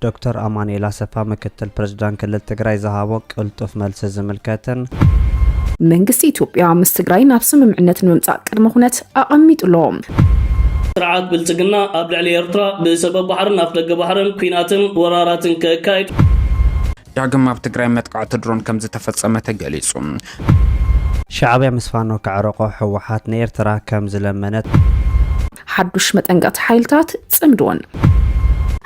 ዶክተር ኣማኑኤል ኣሰፋ ምክትል ፕረዚዳንት ክልል ትግራይ ዝሃቦ ቅልጡፍ መልሲ ዝምልከትን። መንግስቲ ኢትዮጵያ ምስ ትግራይ ናብ ስምምዕነት ንምምጻእ ቅድመ ኩነት ኣቐሚጡ ኣሎ። ስርዓት ብልጽግና ኣብ ልዕሊ ኤርትራ ብሰበብ ባሕርን ኣፍደገ ባሕርን ኲናትን ወራራትን ከካይድ። ዳግም ኣብ ትግራይ መጥቃዕቲ ድሮን ከምዝተፈጸመ ተገሊጹ። ሻዕብያ ምስ ፋኖ ከዕረቆ ህወሓት ንኤርትራ ከም ዝለመነት ሓዱሽ መጠንቀቕቲ ሓይልታት ጽምድዎን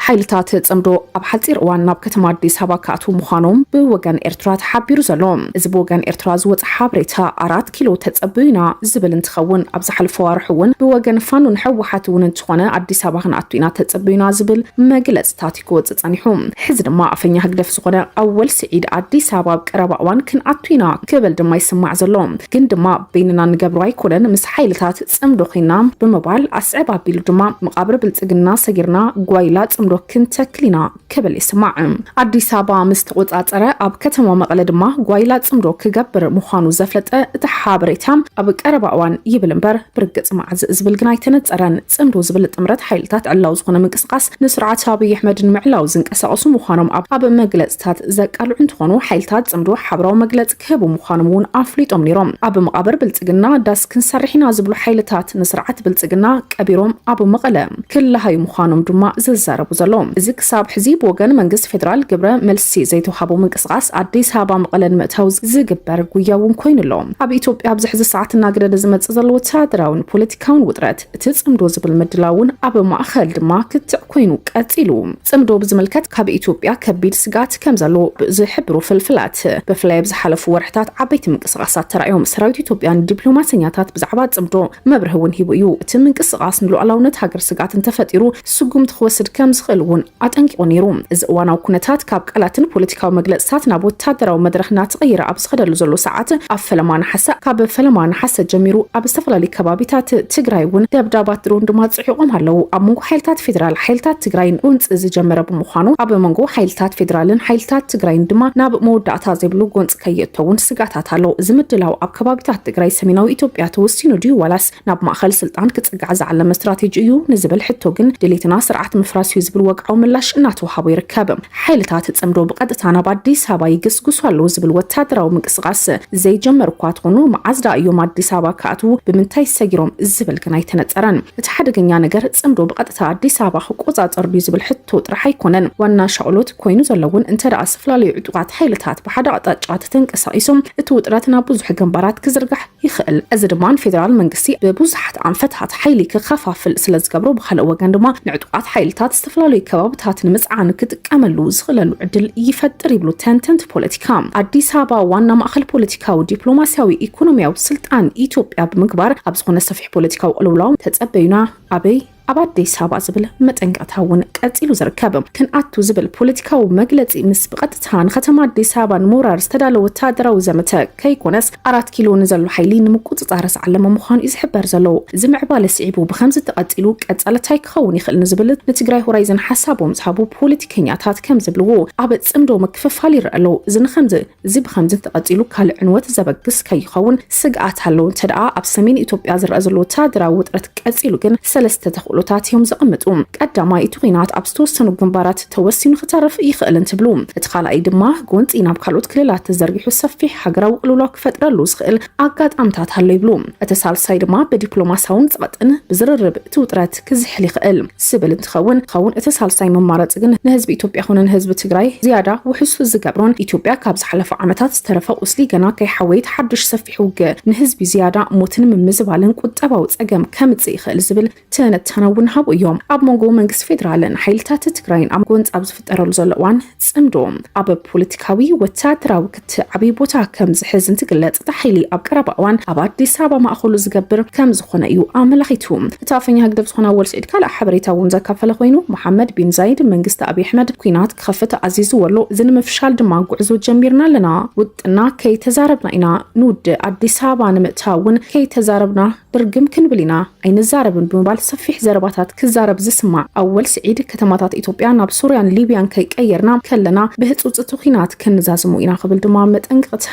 ሓይልታት ጽምዶ ኣብ ሓፂር እዋን ናብ ከተማ ኣዲስ ኣበባ ክኣትዉ ምዃኖም ብወገን ኤርትራ ተሓቢሩ ዘሎ እዚ ብወገን ኤርትራ ዝወፀ ሓበሬታ ኣራት ኪሎ ተፀብዩና ዝብል እንትኸውን ኣብ ዝሓለፈ ዋርሑ እውን ብወገን ፋኖን ሕወሓት እውን እንትኾነ ኣዲስ ኣበባ ክንኣቱ ኢና ተፀብዩና ዝብል መግለፅታት ክወፅእ ፀኒሑ። ሕዚ ድማ ኣፈኛ ህግደፍ ዝኾነ ኣወል ስዒድ ኣዲስ ኣበባ ኣብ ቀረባ እዋን ክንኣቱ ኢና ክብል ድማ ይስማዕ ዘሎ። ግን ድማ በይንና እንገብሮ ኣይኮነን ምስ ሓይልታት ፅምዶ ኮይንና ብምባል ኣስዕብ ኣቢሉ ድማ መቓብር ብልፅግና ሰጊርና ጓይላ ፅምዶ ክንተክል ኢና ክብል ይስማዕ። ኣዲስ ኣበባ ምስ ተቖፃፀረ ኣብ ከተማ መቐለ ድማ ጓይላ ፅምዶ ክገብር ምዃኑ ዘፍለጠ እቲ ሓበሬታ ኣብ ቀረባ እዋን ይብል እምበር ብርግፅ መዓዝ ዝብል ግን ኣይተነፀረን። ፅምዶ ዝብል ጥምረት ሓይልታት ዕላዊ ዝኾነ ምንቅስቓስ ንስርዓት ኣብይ ኣሕመድ ንምዕላው ዝንቀሳቐሱ ምዃኖም ኣብ ኣብ መግለፅታት ዘቃልዑ እንትኾኑ ሓይልታት ፅምዶ ሓበራዊ መግለፂ ክህቡ ምዃኖም እውን ኣፍሊጦም ነይሮም። ኣብ መቓብር ብልፅግና ዳስ ክንሰርሕ ኢና ዝብሉ ሓይልታት ንስርዓት ብልፅግና ቀቢሮም ኣብ መቐለ ክለሃዩ ምዃኖም ድማ ዝዛረቡ ዘለዉ። እዚ ክሳብ ሕዚ ብወገን መንግስቲ ፌደራል ግብረ መልሲ ዘይተውሃቦ ምንቅስቓስ ኣዲስ ኣበባ መቐለ ንምእታው ዝግበር ጉያ እውን ኮይኑ ኣሎ። ኣብ ኢትዮጵያ ኣብዚ ሕዚ ሰዓት እናገደደ ዝመፅእ ዘሎ ወታደራዊን ፖለቲካዊን ካን ውጥረት እቲ ጽምዶ ዝብል ምድላው እውን ኣብ ማእኸል ድማ ክትዕ ኮይኑ ቀፂሉ። ፅምዶ ብዝምልከት ካብ ኢትዮጵያ ከቢድ ስግኣት ከም ዘሎ ብዝሕብሩ ፍልፍላት ብፍላይ ኣብ ዝሓለፉ ወርሕታት ዓበይቲ ምንቅስቓሳት ተራእዮም። ሰራዊት ኢትዮጵያ ንዲፕሎማሰኛታት ብዛዕባ ፅምዶ መብርሂ እውን ሂቡ እዩ። እቲ ምንቅስቓስ ንሉኣላውነት ሃገር ስግኣት እንተፈጢሩ ስጉምቲ ክወስድ ከም ዝኽእል እውን ኣጠንቂቑ ነይሩ። እዚ እዋናዊ ኩነታት ካብ ቃላትን ፖለቲካዊ መግለፅታት ናብ ወታደራዊ መድረኽ እናተቐየረ ኣብ ዝኸደሉ ዘሎ ሰዓት ኣብ ፈለማ ነሓሰ ካብ ፈለማ ነሓሰ ጀሚሩ ኣብ ዝተፈላለዩ ከባቢታት ትግራይ እውን ደብዳባት ድሮን ድማ ፅዒቖም ኣለው። ኣብ መንጎ ሓይልታት ፌዴራል ሓይልታት ትግራይን ጎንፂ ዝጀመረ ብምዃኑ ኣብ መንጎ ሓይልታት ፌዴራልን ሓይልታት ትግራይን ድማ ናብ መወዳእታ ዘይብሉ ጎንፂ ከየእቶ እውን ስግኣታት ኣሎ። እዚ ምድላው ኣብ ከባቢታት ትግራይ ሰሜናዊ ኢትዮጵያ ተወሲኑ ድዩ ዋላስ ናብ ማእኸል ስልጣን ክፅጋዕ ዝዓለመ ስትራቴጂ እዩ ንዝብል ሕቶ ግን ድሌትና ስርዓት ምፍራስ እዩ ዝብል ወግዓዊ ምላሽ እናተውሃቦ ይርከብ። ሓይልታት ፅምዶ ብቐጥታ ናብ ኣዲስ ኣበባ ይግስግሱ ኣለው ዝብል ወታደራዊ ምንቅስቓስ ዘይጀመሩ እኳ ተኾኑ መዓዝ ድኣ እዮም ኣዲስ ኣበባ ክኣትው ብምንታይ ሰጊሮም ዝብል ግን ኣይተነፀረን። እቲ ሓደገኛ ነገር ፅምዶ ብቐጥታ ኣዲስ ኣበባ ክቆፃፀር ድዩ ዝብል ሕቶ ጥራሕ ኣይኮነን ዋና ሻቕሎት ኮይኑ ዘሎ እውን እንተድኣ ዝተፈላለዩ ዕጡቓት ሓይልታት ብሓደ ኣቕጣጫ ተተንቀሳቒሶም እቲ ውጥረት ናብ ብዙሕ ግንባራት ክዝርጋሕ ይኽእል። እዚ ድማ ንፌደራል መንግስቲ ብብዙሓት ኣንፈታት ሓይሊ ክኸፋፍል ስለዝገብሮ፣ ብኻልእ ወገን ድማ ንዕጡቓት ሓይልታት ዝተፈላለዩ ከባብታት ንምጽዓን ክጥቀመሉ ዝኽእለሉ ዕድል ይፈጥር ይብሉ ተንተንቲ ፖለቲካ። ኣዲስ ኣበባ ዋና ማእኸል ፖለቲካዊ፣ ዲፕሎማሲያዊ፣ ኢኮኖሚያዊ ስልጣን ኢትዮጵያ ብምግባር ኣብ ዝኾነ ሰፊሕ ፖለቲካዊ ቅልውላው ተጸበዩና ኣበይ ኣብ ኣዲስ ኣበባ ዝብል መጠንቀቕታ እውን ቀፂሉ ዝርከብ ክንኣቱ ዝብል ፖለቲካዊ መግለፂ ምስ ብቐጥታ ንከተማ ኣዲስ ኣበባ ንምውራር ዝተዳለወ ወታደራዊ ዘመተ ከይኮነስ ኣራት ኪሎ ንዘሎ ሓይሊ ንምቁፅፃር ዝዓለመ ምዃኑ እዩ ዝሕበር ዘሎ። እዚ ምዕባለ ስዒቡ ብከምዚ ተቐፂሉ ቀፃሊ ታይ ክኸውን ይኽእል ንዝብል ንትግራይ ሆራይዘን ሓሳቦም ዝሃቡ ፖለቲከኛታት ከምዝብልዎ ኣብ ፅምዶ ምክፍፋል ይረኣ ኣሎ። እዚ ንከምዚ እዚ ብኸምዚ ተቐጺሉ ካልእ ዕንወት ዘበግስ ከይኸውን ስግኣት ኣሎ። እንተድኣ ኣብ ሰሜን ኢትዮጵያ ዝረኣ ዘሎ ወተሃደራዊ ውጥረት ቀጺሉ ግን ሰለስተ ተኽእሎታት እዮም ዘቐምጡ። ቀዳማይ፣ እቲ ኲናት ኣብ ዝተወሰኑ ግንባራት ተወሲኑ ክተርፍ ይኽእል እንትብሉ፣ እቲ ካልኣይ ድማ ጎንጺ ናብ ካልኦት ክልላት ተዘርጊሑ ሰፊሕ ሃገራዊ ቅልውላው ክፈጥረሉ ዝኽእል ኣጋጣምታት ኣሎ ይብሉ። እቲ ሳልሳይ ድማ ብዲፕሎማስያውን ጸቕጥን ብዝርርብ እቲ ውጥረት ክዝሕል ይኽእል ዝብል እንትኸውን ኸውን እቲ ሳልሳይ መማረፂ ግን ንህዝቢ ኢትዮጵያ ኹነ ንህዝቢ ትግራይ ዝያዳ ውሑስ ዝገብሮን ኢትዮጵያ ካብ ዝሓለፉ ዓመታት ዝተረፈ ቁስሊ ገና ከይሓወየት ሓዱሽ ሰፊሕ ውግእ ንህዝቢ ዝያዳ ሞትን ምምዝባልን ቁጠባዊ ፀገም ከምፅእ ይኽእል ዝብል ትንታነ እውን ሃቡ እዮም። ኣብ መንጎ መንግስቲ ፌዴራልን ሓይልታት ትግራይን ኣብ ጎንፂ ኣብ ዝፍጠረሉ ዘሎ እዋን ፅምዶ ኣብ ፖለቲካዊ ወታደራዊ ክት ዓብይ ቦታ ከም ዝሕዝ እንትግለፅ እቲ ሓይሊ ኣብ ቀረባ እዋን ኣብ ኣዲስ ኣበባ ማእኸሉ ዝገብር ከም ዝኾነ እዩ ኣመላኺቱ። እቲ ኣፈኛ ህግደፍ ዝኾነ ኣወል ስዒድ ካልእ ሓበሬታ እውን ዘካፈለ ኮይኑ መሓመድ ቢን ዛይድ መንግስቲ ኣብይ ኣሕመድ ኩናት ክኸፍት ኣዚዝዎ ኣሎ። እዚ ንምፍሻል ድማ ጉዕዞ ጀሚርና ኣለና። ውጥና ከይተዛረብና ኢና ንውድእ። ኣዲስ ኣበባ ንምእታው እውን ከይተዛረብና ብርግም ክንብል ኢና ኣይንዛረብን ብምባል ሰፊሕ ዘረባታት ክዛረብ ዝስማዕ ኣወል ስዒድ፣ ከተማታት ኢትዮጵያ ናብ ሶርያን ሊብያን ከይቀየርና ከለና ብህጹጽ እቲ ኲናት ከንዛዝሞ ኢና ክብል ድማ መጠንቀቕታ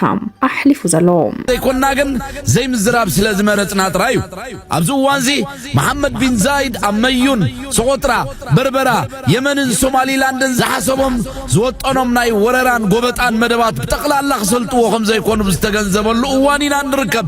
ኣሕሊፉ ዘሎ። ዘይኮንና ግን ዘይምዝራብ ስለ ዝመረጽና ጥራይ እዩ። ኣብዚ እዋንዚ መሓመድ ቢን ዛይድ ኣብ መዩን፣ ሶቖጥራ፣ በርበራ፣ የመንን ሶማሊላንድን ዝሓሰቦም ዝወጠኖም ናይ ወረራን ጎበጣን መደባት ብጠቕላላ ክሰልጥዎ ከም ዘይኮኑ ብዝተገንዘበሉ እዋን ኢና እንርከብ።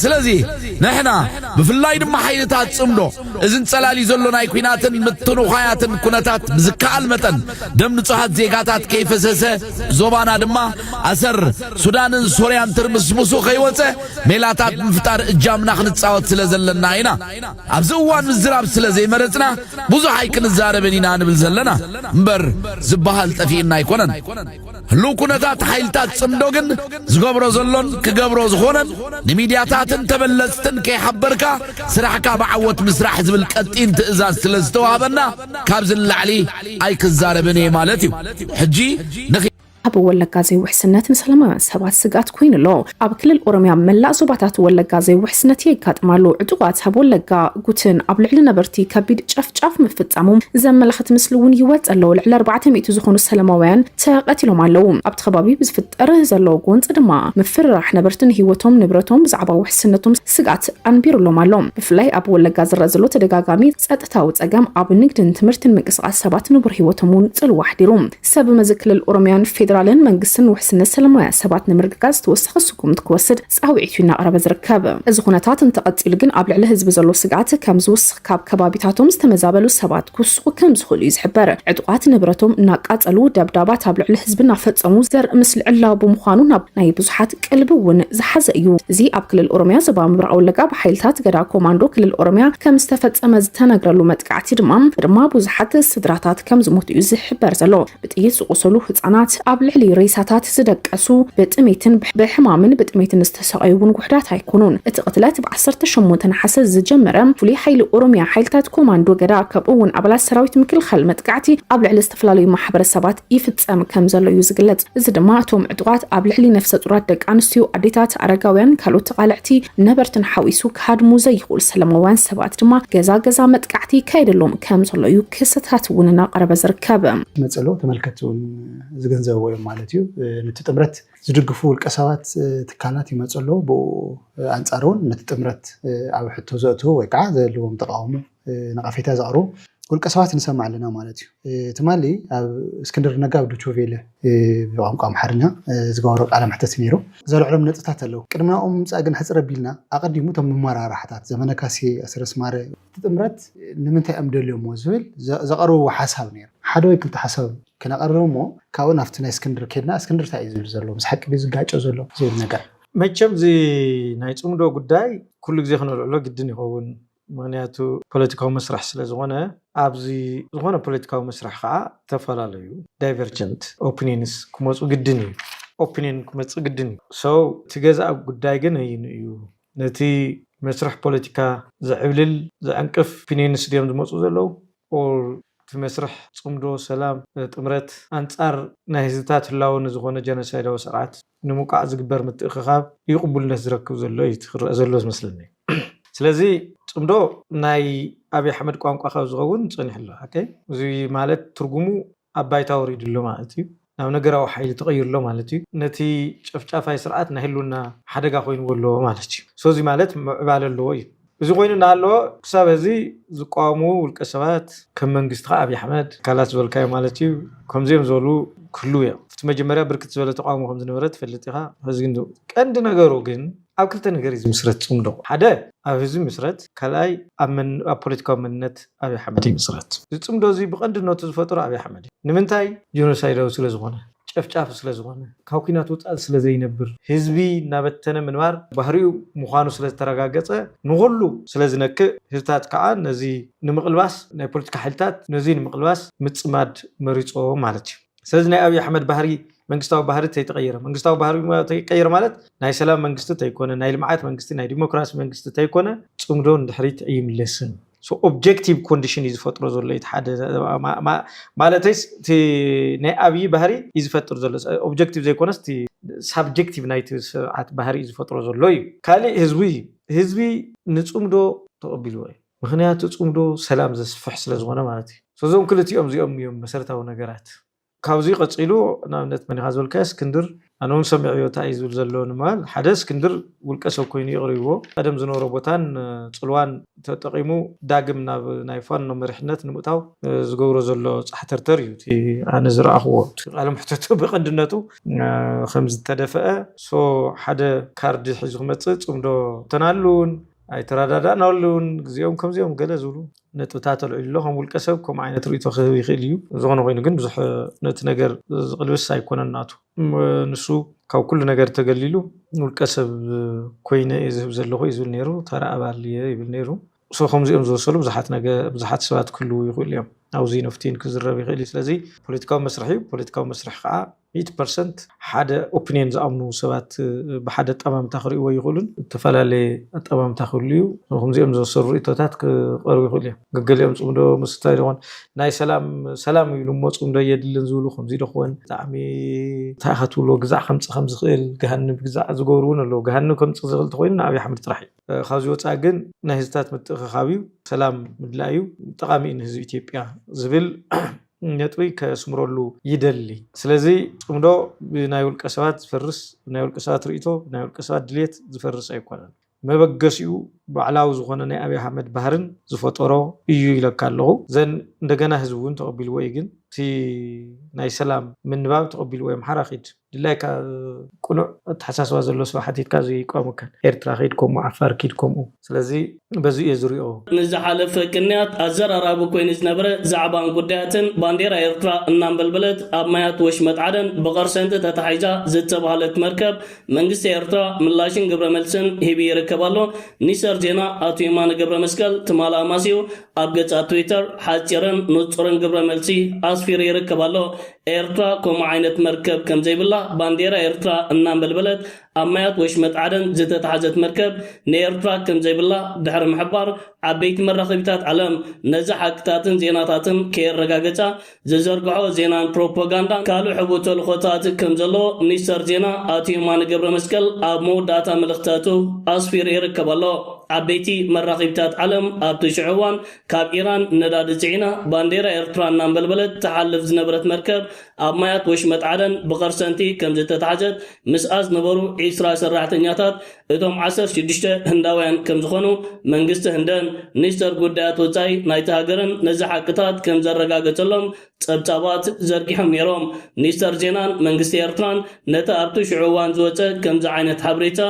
ስለዚ ንሕና ብፍላይ ድማ ሓይልታት ጽምዶ እዚ ንጸላልዩ ዘሎ ናይ ኩናትን ምትንዃያትን ኩነታት ብዝከኣል መጠን ደም ንጹሃት ዜጋታት ከይፈሰሰ ዞባና ድማ ኣሰር ሱዳንን ሶርያን ትርምስምሱ ከይወጸ ሜላታት ምፍጣር እጃምና ክንጻወት ስለ ዘለና ኢና ኣብዚ እዋን ምዝራብ ስለ ዘይመረጽና ብዙሕ ኣይክንዛረብን ኢና ንብል ዘለና እምበር ዝበሃል ጠፊእና ኣይኮነን። ህሉው ኩነታት ሓይልታት ጽምዶ ግን ዝገብሮ ዘሎን ክገብሮ ዝኾነን ንሚድያታትን ተበለጽትን ከይሓበርካ ስራሕካ ብዓወት ምስራሕ ዝብል ቀጢን ትእዛዝ ስለ ዝተዋህበና ካብዚ ንላዕሊ ኣይክዛረብን እየ ማለት እዩ ሕጂ ኣብ ወለጋ ዘይውሕስነት ንሰላማውያን ሰባት ስግኣት ኮይኑ ኣሎ ኣብ ክልል ኦሮሚያ መላእ ዞባታት ወለጋ ዘይውሕስነት የጋጥም ኣሎ። ዕጡቓት ኣብ ወለጋ ጉትን ኣብ ልዕሊ ነበርቲ ከቢድ ጨፍጫፍ ምፍጻሞም ዘመላኽት ምስሊ እውን ይወጽእ ኣሎ። ልዕሊ ኣርባዕተ ሚእቲ ዝኾኑ ሰለማውያን ተቐቲሎም ኣለዉ። ኣብቲ ከባቢ ብዝፍጠር ዘሎ ጎንጺ ድማ ምፍርራሕ ነበርቲ ንህይወቶም ንብረቶም ብዛዕባ ውሕስነቶም ስግኣት ኣንቢሩሎም ኣሎ። ብፍላይ ኣብ ወለጋ ዝረኣ ዘሎ ተደጋጋሚ ጸጥታዊ ጸገም ኣብ ንግድን ትምህርትን ምንቅስቓስ ሰባት ንቡር ህይወቶም እውን ጽልዋ ኣሕዲሩ። ሰብመዚ ክልል ኦሮሚያን ፌዴራልን መንግስትን ውሕስነት ሰለማውያን ሰባት ንምርግጋፅ ተወሳኺ ስጉምቲ ክወስድ ፃውዒት እዩ እናቕረበ ዝርከብ። እዚ ኩነታት እንተቐፂሉ ግን ኣብ ልዕሊ ህዝቢ ዘሎ ስግኣት ከም ዝውስኽ ካብ ከባቢታቶም ዝተመዛበሉ ሰባት ክውስኹ ከም ዝኽእሉ እዩ ዝሕበር። ዕጡቓት ንብረቶም እናቃፀሉ ደብዳባት ኣብ ልዕሊ ህዝቢ እናፈፀሙ ዘርኢ ምስሊ ዕላዊ ብምዃኑ ናብ ናይ ብዙሓት ቀልቢ እውን ዝሓዘ እዩ። እዚ ኣብ ክልል ኦሮሚያ ዞባ ምብራቕ ወለጋ ብሓይልታት ገዳ ኮማንዶ ክልል ኦሮሚያ ከም ዝተፈጸመ ዝተነግረሉ መጥቃዕቲ ድማ ድማ ብዙሓት ስድራታት ከም ዝሞቱ እዩ ዝሕበር ዘሎ። ብጥይት ዝቖሰሉ ህጻናት፣ ኣብ ልዕሊ ሬሳታት ዝደቀሱ፣ ብጥሜትን ብሕማምን ብጥሜትን ዝተሰቐዩ እውን ውሑዳት ኣይኮኑን። እቲ ቅትለት ብ ዓሰርተ ሸሞንተ ነሓሰ ዝጀመረ ፍሉይ ሓይሊ ኦሮሚያ ሓይልታት ኮማንዶ ገዳ ከምኡ እውን ኣባላት ሰራዊት ምክልኻል መጥቃዕቲ ኣብ ልዕሊ ዝተፈላለዩ ማሕበረሰባት ይፍጸም ከም ዘሎ እዩ ዝግለጽ። እዚ ድማ እቶም ዕጡቓት ኣብ ልዕሊ ነፍሰ-ጹራት ደቂ ኣንስትዮ፣ ኣዴታት፣ ኣረጋውያን፣ ካልኦት ተቓለዕቲ ነበርትን ሓዊሱ ክሃድሙ ዘይኽእሉ ሰለማውያን ሰባት ድማ ገዛ ገዛ መጥቃዕቲ ይካየደሎም ከም ዘሎ እዩ ክሰታት እውን እናቐረበ ዝርከብ። መጸሎ ተመልከትቲ እውን ዝግንዘብዎ እዮም ማለት እዩ። ነቲ ጥምረት ዝድግፉ ውልቀሰባት ትካላት ይመጹ ኣለዉ፣ ብኡ ኣንጻር እውን ነቲ ጥምረት ኣብ ሕቶ ዘእትዉ ወይ ከዓ ዘልዎም ተቓውሞ ነቐፌታ ዘቕርቡ ውልቀ ሰባት ንሰምዕ ኣለና ማለት እዩ። ትማሊ ኣብ እስክንድር ነጋ ኣብ ዶችቬለ ብቋንቋ ኣምሓርኛ ዝገበሮ ቃለ መሕተት ነይሩ። ዘልዕሎም ነጥብታት ኣለዉ። ቅድሚ ናብኦም ምምጻእ ግን ሕጽር ኣቢልና ኣቐዲሙ እቶም መመራርሓታት ዘመነ ካሴ፣ ኣሰረስ ማረ፣ እቲ ጥምረት ንምንታይ እዮም ደልዮምዎ ዝብል ዘቐርብዎ ሓሳብ ነይሩ። ሓደ ወይ ክልተ ሓሳብ ክነቐርብ እሞ ካብኡ ናብቲ ናይ እስክንድር ኬድና እስክንድር እንታይ እዩ ዝብል ዘሎ፣ ምስ ሓቂ ድዩ ዝጋጮ ዘሎ ዝብል ነገር። መቸም እዚ ናይ ጽምዶ ጉዳይ ኩሉ ግዜ ክነልዕሎ ግድን ይኸውን። ምክንያቱ ፖለቲካዊ መስርሕ ስለ ዝኾነ ኣብዚ ዝኾነ ፖለቲካዊ መስርሕ ኸዓ ዝተፈላለዩ ዳይቨርጀንት ኦፕኒንስ ክመፁ ግድን እዩ ኦፕኒን ክመፅእ ግድን እዩ so እቲ ገዛኢ ጉዳይ ግን ኣይኑ እዩ ነቲ መስርሕ ፖለቲካ ዝዕብልል ዝዕንቅፍ ኦፕኒንስ ድዮም ዝመፁ ዘለዉ or እቲ መስርሕ ጽምዶ ሰላም ጥምረት ኣንጻር ናይ ህዝብታት ህላወ ንዝኾነ ጀኖሳይዳዊ ስርዓት ንምውቃዕ ዝግበር ምትእኽኻብ እዩ ቅቡልነት ዝረክብ ዘሎ እዩ እቲ ክረኣ ዘሎ ዝመስለኒ ስለዚ ጽምዶ ናይ ኣብይ ኣሕመድ ቋንቋ ካብ ዝኸውን ጸኒሑ ኣሎ ሓቀይ እዚ ማለት ትርጉሙ ኣብ ባይታ ወሪዱ ኣሎ ማለት እዩ። ናብ ነገራዊ ሓይሊ ተቐይሩ ኣሎ ማለት እዩ። ነቲ ጨፍጫፋይ ስርዓት ናይ ህልውና ሓደጋ ኮይንዎ ኣሎ ማለት እዩ። So እዚ ማለት ምዕባለ ኣለዎ እዩ። እዚ ኮይኑ እናሃለወ ክሳብ ሀዚ ዝቋወምዎ ውልቀ ሰባት ከም መንግስቲ ከኣ ኣብይ ኣሕመድ ኣካላት ዝበልካዮም ማለት እዩ ከምዚኦም ዝበሉ ክህልው እዮም። ኣብቲ መጀመርያ ብርክት ዝበለ ተቋውሞ ከምዝነበረ ትፈልጥ ኢኻ። ሀዚ ግን ቀንዲ ነገሩ ግን ኣብ ክልተ ነገር እዩ ዝምስረት ፅምዶ። ሓደ ኣብ ህዝቢ ይምስረት፣ ካልኣይ ኣብ ፖለቲካዊ መንነት ኣብይ ኣሕመድ ይምስረት። እዚ ፅምዶ እዙይ ብቐንድነቱ ዝፈጠሮ ኣብይ ኣሕመድ እዩ። ንምንታይ? ጆኖሳይዳዊ ስለዝኾነ፣ ጨፍጫፊ ስለዝኾነ፣ ካብ ኲናት ወፃኢ ስለዘይነብር፣ ህዝቢ እናበተነ ምንባር ባህሪኡ ምዃኑ ስለዝተረጋገፀ፣ ንኹሉ ስለዝነክእ፣ ህዝብታት ከዓ ነዙይ ንምቕልባስ ናይ ፖለቲካ ሓይልታት ነዙይ ንምቕልባስ ምፅማድ መሪፆም ማለት እዩ። ስለዚ ናይ ኣብይ ኣሕመድ ባህሪ መንግስታዊ ባህሪ ተይተቐየረ መንግስታዊ ባህሪ ተይቀየረ ማለት ናይ ሰላም መንግስቲ ተይኮነ ናይ ልምዓት መንግስቲ ናይ ዲሞክራሲ መንግስቲ ተይኮነ ፅምዶ ንድሕሪት ኣይምለስን ኦብጀክቲቭ ኮንዲሽን እዩ ዝፈጥሮ ዘሎ እቲ ሓደ ማለተይስ እቲ ናይ ኣብዪ ባህሪ እዩ ዝፈጥር ዘሎ ኦብጀክቲቭ ዘይኮነስ እቲ ሳብጀክቲቭ ናይቲ ስርዓት ባህሪ እዩ ዝፈጥሮ ዘሎ እዩ ካሊእ ህዝቢ እዩ ህዝቢ ንፅምዶ ተቐቢልዎ እዩ ምኽንያቱ ጽምዶ ሰላም ዘስፍሕ ስለ ዝኾነ ማለት እዩ። So እዞም ክልቲኦም እዚኦም እዮም መሰረታዊ ነገራት። ካብዚ ቀጺሉ ንኣብነት መን ኢኻ ዝበልካዮ እስክንድር ኣነ ውን ሰሚዐዮ እንታይ እዩ ዝብል ዘሎ ንምባል ሓደ እስክንድር ውልቀ ሰብ ኮይኑ ይቕርብዎ ቀደም ዝነበሮ ቦታን ጽልዋን ተጠቒሙ ዳግም ናብ ናይ ፋኖ መሪሕነት ንምእታው ዝገብሮ ዘሎ ጻሕተርተር እዩ እቲ ኣነ ዝረኣኽዎ እቲ ቃለ መሕተቱ ብቐንድነቱ ከም ዝተደፈአ so ሓደ ካርድ ሒዙ ክመጽእ ጽምዶ ተናሉን ኣይተረዳዳእን ኣሉ ውን ግዚኦም ከምዚኦም ገለ ዝብሉ ነጥብታት ኣልዒሉ ኣሎ ከም ውልቀ ሰብ ከምኡ ዓይነት ርእይቶ ክህብ ይኽእል ኢዩ ዝኾነ ኮይኑ ግን ብዙሕ ነቲ ነገር ዝቅልብስ ኣይኮነን ናቱ ንሱ ካብ ኩሉ ነገር ተገሊሉ ንውልቀ ሰብ ኮይነ ኢየ ዝህብ ዘለኹ ኢዩ ዝብል ኔሩ ተራ ኣባል ኢየ ይብል ኔሩ ሶ ከምዚኦም ዝመሰሉ ብዙሓት ነገ ብዙሓት ሰባት ክህልዉ ይኽእሉ ኢዮም ኣውዚ ነፍቲን ክዝረብ ይኽእል ኢዩ ስለዚ ፖለቲካዊ መስርሕ ኢዩ ፖለቲካዊ መስርሕ ከኣ ሚእቲ ፐርሰንት ሓደ ኦፕንዮን ዝኣምኑ ሰባት ብሓደ ኣጠማምታ ክርእይዎ ይኽእሉን። እተፈላለየ ኣጠማምታ ክህሉ እዩ። ከምዚኦም ዝመሰሉ ርእይቶታት ክቐርቡ ይኽእሉ እዮም። ገገሊኦም ጽምዶ ምስ እንታይ ደኾን ናይ ሰላም ሰላም እዩ ኢሉ እሞ ጽምዶ ኣየድልን ዝብሉ ከምዚ ደኾን ብጣዕሚ እንታይ ኢኻ ትብሎ ግዛዕ ከምጽእ ከም ዝኽእል ገሃንብ ግዛዕ ዝገብሩ እውን ኣለዉ። ገሃንብ ከምጽእ ዝኽእል እንተኾይኑ ንኣብይ ኣሕመድ ጥራሕ እዩ። ካብዚ ወጻኢ ግን ናይ ህዝብታት ምትእኽኻብ እዩ። ሰላም ምድላይ እዩ። ጠቓሚ እዩ ንህዝቢ ኢትዮጵያ ዝብል ነጥቢ ከስምረሉ ይደሊ። ስለዚ ጽምዶ ብናይ ውልቀ ሰባት ዝፈርስ፣ ብናይ ውልቀ ሰባት ርእይቶ፣ ብናይ ውልቀ ሰባት ድልየት ዝፈርስ ኣይኮነን። መበገሲኡ ባዕላዊ ዝኾነ ናይ ኣብይ ኣሕመድ ባህርን ዝፈጠሮ እዩ ኢለካ ኣለኹ። ዘን እንደገና ህዝቢ እውን ተቐቢልዎ እዩ ግን እቲ ናይ ሰላም ምንባብ ተቐቢልዎ የምሓራ ኪድ። ድላይካ ቅኑዕ ኣተሓሳስባ ዘሎ ሰብ ሓቲትካ እዚ ኣይቋመካን። ኤርትራ ኪድ ከምኡ ዓፋር ኪድ ከምኡ። ስለዚ በዚ እየ ዝሪኦ። ንዝሓለፈ ቅንያት ኣዘራራቢ ኮይኑ ዝነበረ ዛዕባን ጉዳያትን ባንዴራ ኤርትራ እናንበልበለት ኣብ ማያት ወሽመጥ ዓደን ብቐርሰንቲ ተታሒዛ ዝተባህለት መርከብ መንግስቲ ኤርትራ ምላሽን ግብረመልስን ሂቡ ይርከብ ኣሎ ሚኒስተር ዜና ኣቶ የማነ ገብረመስቀል ትማል ኣማስዩ ኣብ ገጻት ትዊተር ሓጺርን ንጹርን ግብረመልሲ ኣስፊሩ ይርከብ ኣሎ ኤርትራ ከምኡ ዓይነት መርከብ ከም ዘይብላ ባንዴራ ኤርትራ እናንበልበለት ኣብ ማያት ወሽመጥ ዓደን ዝተታሕዘት መርከብ ንኤርትራ ከም ዘይብላ ድሕሪ ምሕባር ዓበይቲ መራኸቢታት ዓለም ነዚ ሓቅታትን ዜናታትን ከየረጋገጻ ዝዘርግሕኦ ዜናን ፕሮፖጋንዳን ካልእ ሕቡእ ተልእኾታት ከም ዘለዎ ሚኒስተር ዜና ኣቶ የማነ ገብረመስቀል ኣብ መወዳእታ መልእኽታቱ ኣስፊሩ ይርከብ ኣሎ። ዓበይቲ መራኸቢታት ዓለም ኣብቲ ሽዑ እዋን ካብ ኢራን ነዳዲ ጽዒና ባንዴራ ኤርትራ እናንበልበለት ትሓልፍ ዝነበረት መርከብ ኣብ ማያት ወሽመጥ ዓደን ብቐርሰንቲ ከምዝተታሕዘት ምስኣ ዝነበሩ ዒስራ ሰራሕተኛታት እቶም ዓሰርተ ሽዱሽተ ህንዳውያን ከምዝኾኑ መንግስቲ ህንደን ሚኒስተር ጉዳያት ወጻኢ ናይቲ ሃገርን ነዚ ሓቅታት ከምዘረጋገጸሎም ጸብጻባት ዘርጊሖም ነይሮም። ሚኒስተር ዜናን መንግስቲ ኤርትራን ነቲ ኣብቲ ሽዑ እዋን ዝወጸ ከምዚ ዓይነት ሓበሬታ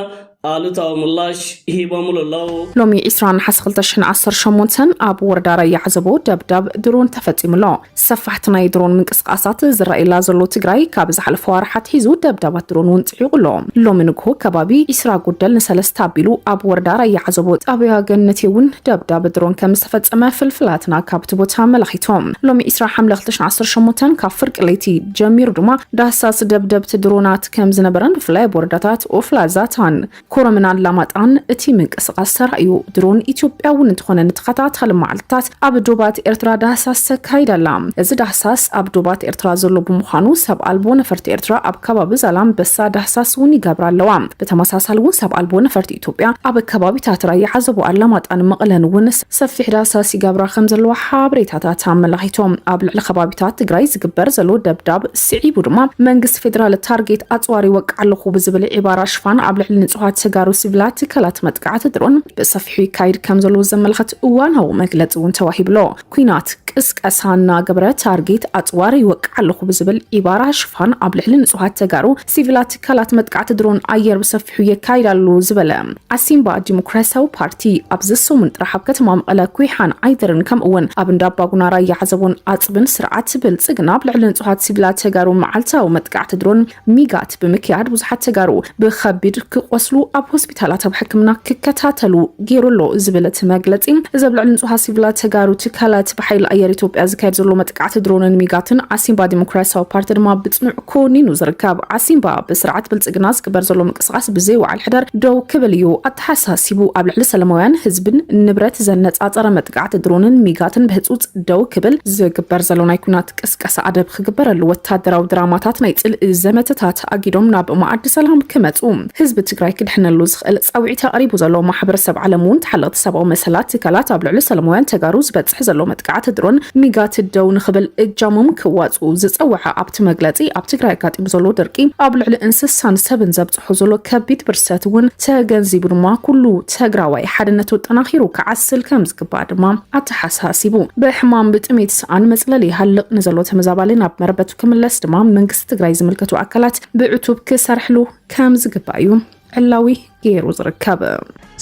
ኣሉታዊ ምላሽ ሂቦምሉ ኣለዉ። ሎሚ ዕስራ ነሓሰ ክልተ ሽሕን ዓሰርተ ሸሞንተን ኣብ ወረዳ ራያ ዓዘቦ ደብዳብ ድሮን ተፈጺሙ ኣሎ። ሰፋሕቲ ናይ ድሮን ምንቅስቓሳት ዝረኣየላ ዘሎ ትግራይ ካብ ዝሓለፈ ኣዋርሕ ኣትሒዙ ደብዳባት ድሮን እውን ጥሒቑ'ሎ። ሎሚ ንግሆ ከባቢ ዒስራ ጉደል ንሰለስተ ኣቢሉ ኣብ ወረዳ ራያ ዓዘቦ ጣብያ ገነት'ውን ደብዳብ ድሮን ከምዝተፈጸመ ፍልፍላትና ካብ'ቲ ቦታ ኣመላኺቶም። ሎሚ ዒስራ ሓምለ ክልተ ሽሕን ዓሰርተ ሸሞንተን ካብ ፍርቂ ለይቲ ጀሚሩ ድማ ዳህሳስ ደብደብቲ ድሮናት ከምዝነበረን ብፍላይ ኣብ ወረዳታት ኦፍላ፣ ዛታን፣ ኮረምን ኣላማጣን እቲ ምንቅስቓስ ተራእዩ። ድሮን ኢትዮጵያ እውን እንተኾነ ንተኸታታሊ መዓልትታት ኣብ ዶባት ኤርትራ ዳህሳስ ተካይድ ኣላ። እዚ ዳህሳስ ኣብ ዶባት ኤርትራ ዘሎ ብምዃኑ ሰብ ኣልቦ ነፈርቲ ኤርትራ ኣብ ከባቢ ዛላምበሳ ዳህሳስ እውን ይገብራ ኣለዋ። ብተመሳሳሊ እውን ሰብ ኣልቦ ነፈርቲ ኢትዮጵያ ኣብ ከባቢታት ራያ ዓዘቦ፣ ኣላማጣን መቐለን እውን ሰፊሕ ዳህሳስ ይገብራ ከም ዘለዋ ሓበሬታታት ኣመላኺቶም። ኣብ ልዕሊ ከባቢታት ትግራይ ዝግበር ዘሎ ደብዳብ ስዒቡ ድማ መንግስቲ ፌደራል ታርጌት ኣፅዋር ይወቅዕ ኣለኹ ብዝብል ዒባራ ሽፋን ኣብ ልዕሊ ንፁሃት ተጋሩ ሲቪላት ትካላት መጥቃዕቲ ድሮን ብሰፊሑ ይካይድ ከም ዘሎ ዘመልኸት እዋናዊ መግለፂ እውን ተዋሂብሎ ኩናት ቅስቀሳ እናገበረ ታርጌት ኣፅዋር ይወቅዕ ኣለኹ ብዝብል ዒባራ ሽፋን ኣብ ልዕሊ ንፁሃት ተጋሩ ሲቪላት ትካላት መጥቃዕቲ ድሮን ኣየር ብሰፊሑ የካይድ ኣሎ ዝበለ ዓሲምባ ዲሞክራሲያዊ ፓርቲ ኣብዚ ሰሙን ጥራሕ ኣብ ከተማ መቐለ ኩይሓን ዓይደርን ከምኡ እውን ኣብ እንዳ ኣባጉና ራያ ዓዘቦን ኣፅብን ስርዓት ብልፅግና ኣብ ልዕሊ ንፁሃት ሲቪላት ተጋሩ መዓልታዊ መጥቃዕቲ ድሮን ሚጋት ብምክያድ ብዙሓት ተጋሩ ብከቢድ ክቆስሉ ኣብ ትካላት ኣብ ሕክምና ክከታተሉ ገይሩ ኣሎ ዝብል እቲ መግለፂ እዚ ኣብ ልዕሊ ንፁሃት ሲቪላት ተጋሩ ትካላት ብሓይሊ ኣየር ኢትዮጵያ ዝካየድ ዘሎ መጥቃዕቲ ድሮንን ሚጋትን ዓሲምባ ዲሞክራሲያዊ ፓርቲ ድማ ብፅኑዕ ኮኒኑ ዝርከብ ዓሲምባ ብስርዓት ብልፅግና ዝግበር ዘሎ ምንቅስቃስ ብዘይወዓል ሕደር ደው ክብል እዩ ኣተሓሳሲቡ ኣብ ልዕሊ ሰላማውያን ህዝብን ንብረት ዘነፃፀረ መጥቃዕቲ ድሮንን ሚጋትን ብህፁፅ ደው ክብል ዝግበር ዘሎ ናይ ኩናት ቅስ ቀስ ኣደብ ክግበረሉ ወታደራዊ ድራማታት ናይ ጽልኢ ዘመተታት ኣጊዶም ናብ መኣዲ ሰላም ክመጹ ህዝቢ ትግራይ ክድሕነሉ ዝኽእል ጻውዒት ኣቕሪቡ ዘሎ ማሕበረሰብ ዓለም እውን ተሓለቕቲ ሰብኣዊ መሰላት ትካላት ኣብ ልዕሊ ሰላማውያን ተጋሩ ዝበጽሕ ዘሎ መጥቃዕቲ ድሮን ሚጋት ደው ንኽብል እጃሞም ክዋጽኡ ዝጸወዐ ኣብቲ መግለጺ ኣብ ትግራይ ኣጋጢሙ ዘሎ ድርቂ ኣብ ልዕሊ እንስሳን ሰብን ዘብጽሖ በፂሑ ዘሎ ከቢድ ብርሰት እውን ተገንዚቡ ድማ ኩሉ ተግራዋይ ሓድነቱ ኣጠናኺሩ ክዓስል ከም ዝግባእ ድማ ኣተሓሳሲቡ። ብሕማም ብጥሜት ሰኣን መፅለሊ ይሃልቕ ንዘሎ ተመዛባሊ ናብ መረበቱ ክምለስ ድማ መንግስቲ ትግራይ ዝምልከቱ ኣካላት ብዕቱብ ክሰርሕሉ ከም ዝግባእ እዩ ዕላዊ ገይሩ ዝርከብ።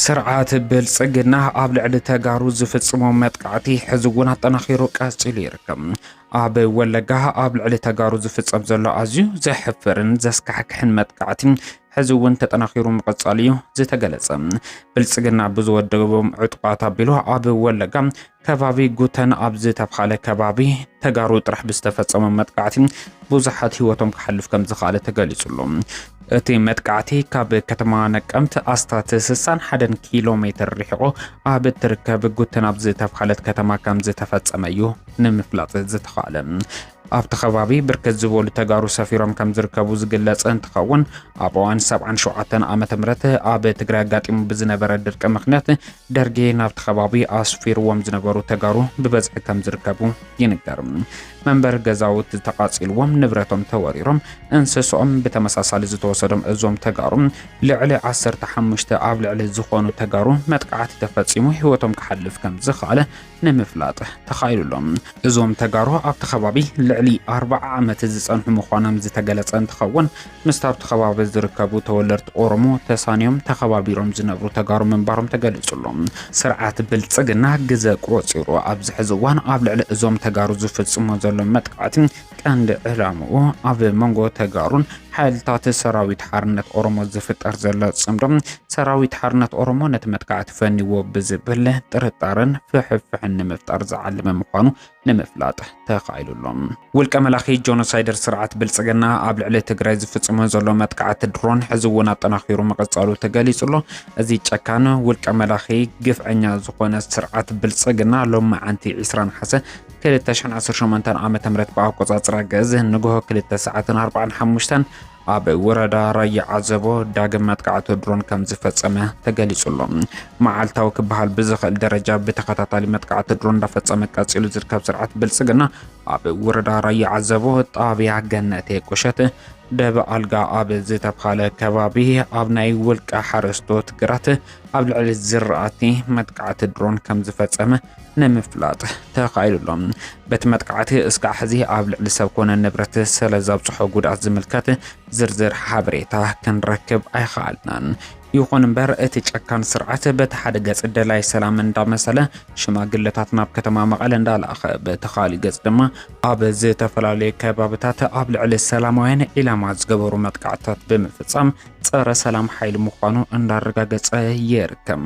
ስርዓት ብልፅግና ኣብ ልዕሊ ተጋሩ ዝፍፅሞ መጥቃዕቲ ሕዚ እውን ኣጠናኺሩ ቀፂሉ ይርከብ። ኣብ ወለጋ ኣብ ልዕሊ ተጋሩ ዝፍጸም ዘሎ ኣዝዩ ዘሕፍርን ዘስካሕክሕን መጥቃዕቲ ሕዚ እውን ተጠናኺሩ ምቕጻሉ እዩ ዝተገለጸ። ብልጽግና ብዝወደቦም ዕጡቓት ኣቢሉ ኣብ ወለጋ ከባቢ ጉተን ኣብ ዝተብሃለ ከባቢ ተጋሩ ጥራሕ ብዝተፈጸመ መጥቃዕቲ ብዙሓት ህይወቶም ክሓልፍ ከም ዝኸኣለ ተገሊጹ ኣሎ። እቲ መጥቃዕቲ ካብ ከተማ ነቀምት ኣስታት 61 ኪሎ ሜትር ርሒቑ ኣብ እትርከብ ጉተን ኣብ ዝተብሃለት ከተማ ከም ዝተፈጸመ እዩ ንምፍላጥ ዝተኻእለ። ኣብቲ ከባቢ ብርክት ዝበሉ ተጋሩ ሰፊሮም ከም ዝርከቡ ዝግለጽ እንትኸውን ኣብ እዋን ሰብዓን ሸውዓተን ዓመተ ምህረት ኣብ ትግራይ ኣጋጢሙ ብዝነበረ ድርቂ ምክንያት ደርጌ ናብቲ ከባቢ ኣስፊርዎም ዝነበሩ ተጋሩ ብበዝሒ ከም ዝርከቡ ይንገር። መንበሪ ገዛውት ተቓጺልዎም፣ ንብረቶም ተወሪሮም፣ እንስሶኦም ብተመሳሳሊ ዝተወሰዶም እዞም ተጋሩ ልዕሊ 15 ኣብ ልዕሊ ዝኾኑ ተጋሩ መጥቃዕቲ ተፈጺሙ ህይወቶም ክሓልፍ ከም ዝኸኣለ ንምፍላጥ ተኻኢሉ ኣሎ። እዞም ተጋሩ ኣብቲ ከባቢ ልዕሊ ኣርባዓ ዓመት ዝፀንሑ ምዃኖም ዝተገለፀ እንትኸውን ምስቲ ኣብቲ ከባቢ ዝርከቡ ተወለድቲ ኦሮሞ ተሳንዮም ተኸባቢሮም ዝነብሩ ተጋሩ ምንባሮም ተገሊፁ ኣሎ። ስርዓት ብልፅግና ግዘ ቆፂሩ ኣብዚ ሕዚ እዋን ኣብ ልዕሊ እዞም ተጋሩ ዝፍፅሞ ዘሎ መጥቃዕቲ ቀንዲ ዕላምኡ ኣብ መንጎ ተጋሩን ሓይልታት ሰራዊት ሓርነት ኦሮሞ ዝፍጠር ዘሎ ጽምዶ ሰራዊት ሓርነት ኦሮሞ ነቲ መጥቃዕቲ ፈኒዎ ብዝብል ጥርጣረን ፍሕፍሕን ንምፍጣር ዝዓለመ ምዃኑ ንምፍላጥ ተኻኢሉ ኣሎ። ውልቀ መላኺ ጆኖሳይደር ስርዓት ብልጽግና ኣብ ልዕሊ ትግራይ ዝፍጽሞ ዘሎ መጥቃዕቲ ድሮን ሕዚ እውን ኣጠናኺሩ ምቕጻሉ ተገሊጹ ኣሎ። እዚ ጨካን ውልቀ መላኺ ግፍዐኛ ዝኾነ ስርዓት ብልጽግና ሎሚ መዓንቲ 20 ነሓሰ ክልተ ሽሕን ዓሰርተ ሸሞንተን ዓመተ ምህረት ብኣቆጻጽራ ግእዝ ንግሆ ክልተ ሰዓትን ኣርባዓን ሓሙሽተን ኣብ ወረዳ ራያ ዓዘቦ ዳግም መጥቃዕቲ ድሮን ከም ዝፈጸመ ተገሊጹ ኣሎ። መዓልታዊ ክበሃል ብዝኽእል ደረጃ ብተኸታታሊ መጥቃዕቲ ድሮን እንዳፈጸመ ቀጺሉ ዝርከብ ስርዓት ብልጽግና ኣብ ወረዳ ራያ ዓዘቦ ጣብያ ገነቴ ቁሸት ደብ ኣልጋ ኣብ ዝተብሃለ ከባቢ ኣብ ናይ ውልቀ ሓረስቶት ግራት ኣብ ልዕሊ ዝራእቲ መጥቃዕቲ ድሮን ከም ዝፈጸመ ንምፍላጥ ተኻኢሉ ኣሎ። በቲ መጥቃዕቲ እስካዕ ሕዚ ኣብ ልዕሊ ሰብ ኮነ ንብረት ስለ ዘብጽሖ ጉድኣት ዝምልከት ዝርዝር ሓበሬታ ክንረክብ ኣይኸኣልናን። ይኹን እምበር እቲ ጨካን ስርዓት በቲ ሓደ ገጽ ደላይ ሰላም እንዳመሰለ ሽማግለታት ናብ ከተማ መቐለ እንዳላኸ በቲ ካሊእ ገጽ ድማ ኣብ ዝተፈላለዩ ከባብታት ኣብ ልዕሊ ሰላማውያን ዒላማ ዝገበሩ መጥቃዕትታት ብምፍጻም ጸረ ሰላም ሓይሊ ምዃኑ እንዳረጋገጸ ይርከብ።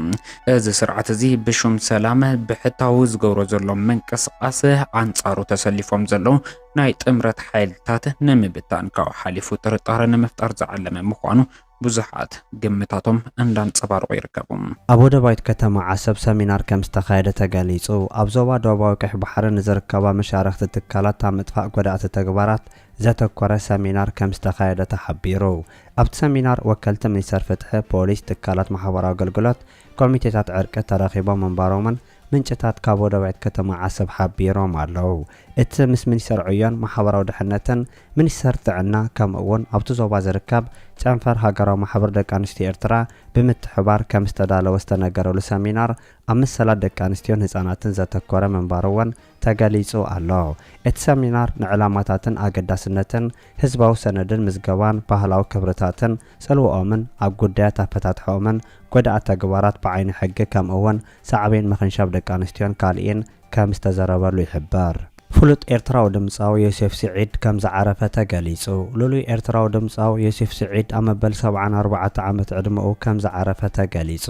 እዚ ስርዓት እዚ ብሹም ሰላም ብሕታዊ ዝገብሮ ዘሎ ምንቅስቓስ ኣንጻሩ ተሰሊፎም ዘለዉ ናይ ጥምረት ሓይልታት ንምብታን ካብኡ ሓሊፉ ጥርጣረ ንምፍጣር ዝዓለመ ምዃኑ ብዙሓት ግምታቶም እንዳንጸባርቑ ይርከቡ። ኣብ ወደባዊት ከተማ ዓሰብ ሰሚናር ከምዝተኻየደ ተገሊጹ። ኣብ ዞባ ዶባዊ ቀይሕ ባሕሪ ንዝርከባ መሻርኽቲ ትካላት ኣብ ምጥፋእ ጎዳእቲ ተግባራት ዘተኮረ ሰሚናር ከምዝተኻየደ ተሓቢሩ። ኣብቲ ሰሚናር ወከልቲ ሚኒስተር ፍትሒ፣ ፖሊስ፣ ትካላት ማሕበራዊ ኣገልግሎት፣ ኮሚቴታት ዕርቂ ተረኺቦም ምንባሮምን ምንጭታት ካብ ወደባዊት ከተማ ዓሰብ ሓቢሮም ኣለው። እቲ ምስ ሚኒስተር ዕዮን ማሕበራዊ ድሕነትን፣ ሚኒስተር ጥዕና ከምኡ'ውን ኣብቲ ዞባ ዝርከብ ጨንፈር ሃገራዊ ማሕበር ደቂ ኣንስትዮ ኤርትራ ብምትሕብባር ከምዝተዳለወ ዝተነገረሉ ሰሚናር ኣብ መሰላት ደቂ ኣንስትዮን ህጻናትን ዘተኮረ ምንባሩ'ውን ተገሊጹ ኣሎ። እቲ ሰሚናር ንዕላማታትን ኣገዳስነትን ህዝባዊ ሰነድን ምዝገባን ባህላዊ ክብርታትን ጽልወኦምን ኣብ ጉዳያት ኣፈታትሓኦምን ጎዳእቲ ተግባራት ብዓይኒ ሕጊ ከምእውን ሳዕቤን ምኽንሻብ ደቂ ኣንስትዮን ካልኢን ከም ዝተዘረበሉ ይሕበር። ፍሉጥ ኤርትራዊ ድምጻዊ ዮሴፍ ስዒድ ከም ዝዓረፈ ተገሊጹ። ልሉይ ኤርትራዊ ድምጻዊ ዮሴፍ ስዒድ ኣብ መበል ሰብዓን ኣርባዕተ ዓመት ዕድመኡ ከም ዝዓረፈ ተገሊጹ።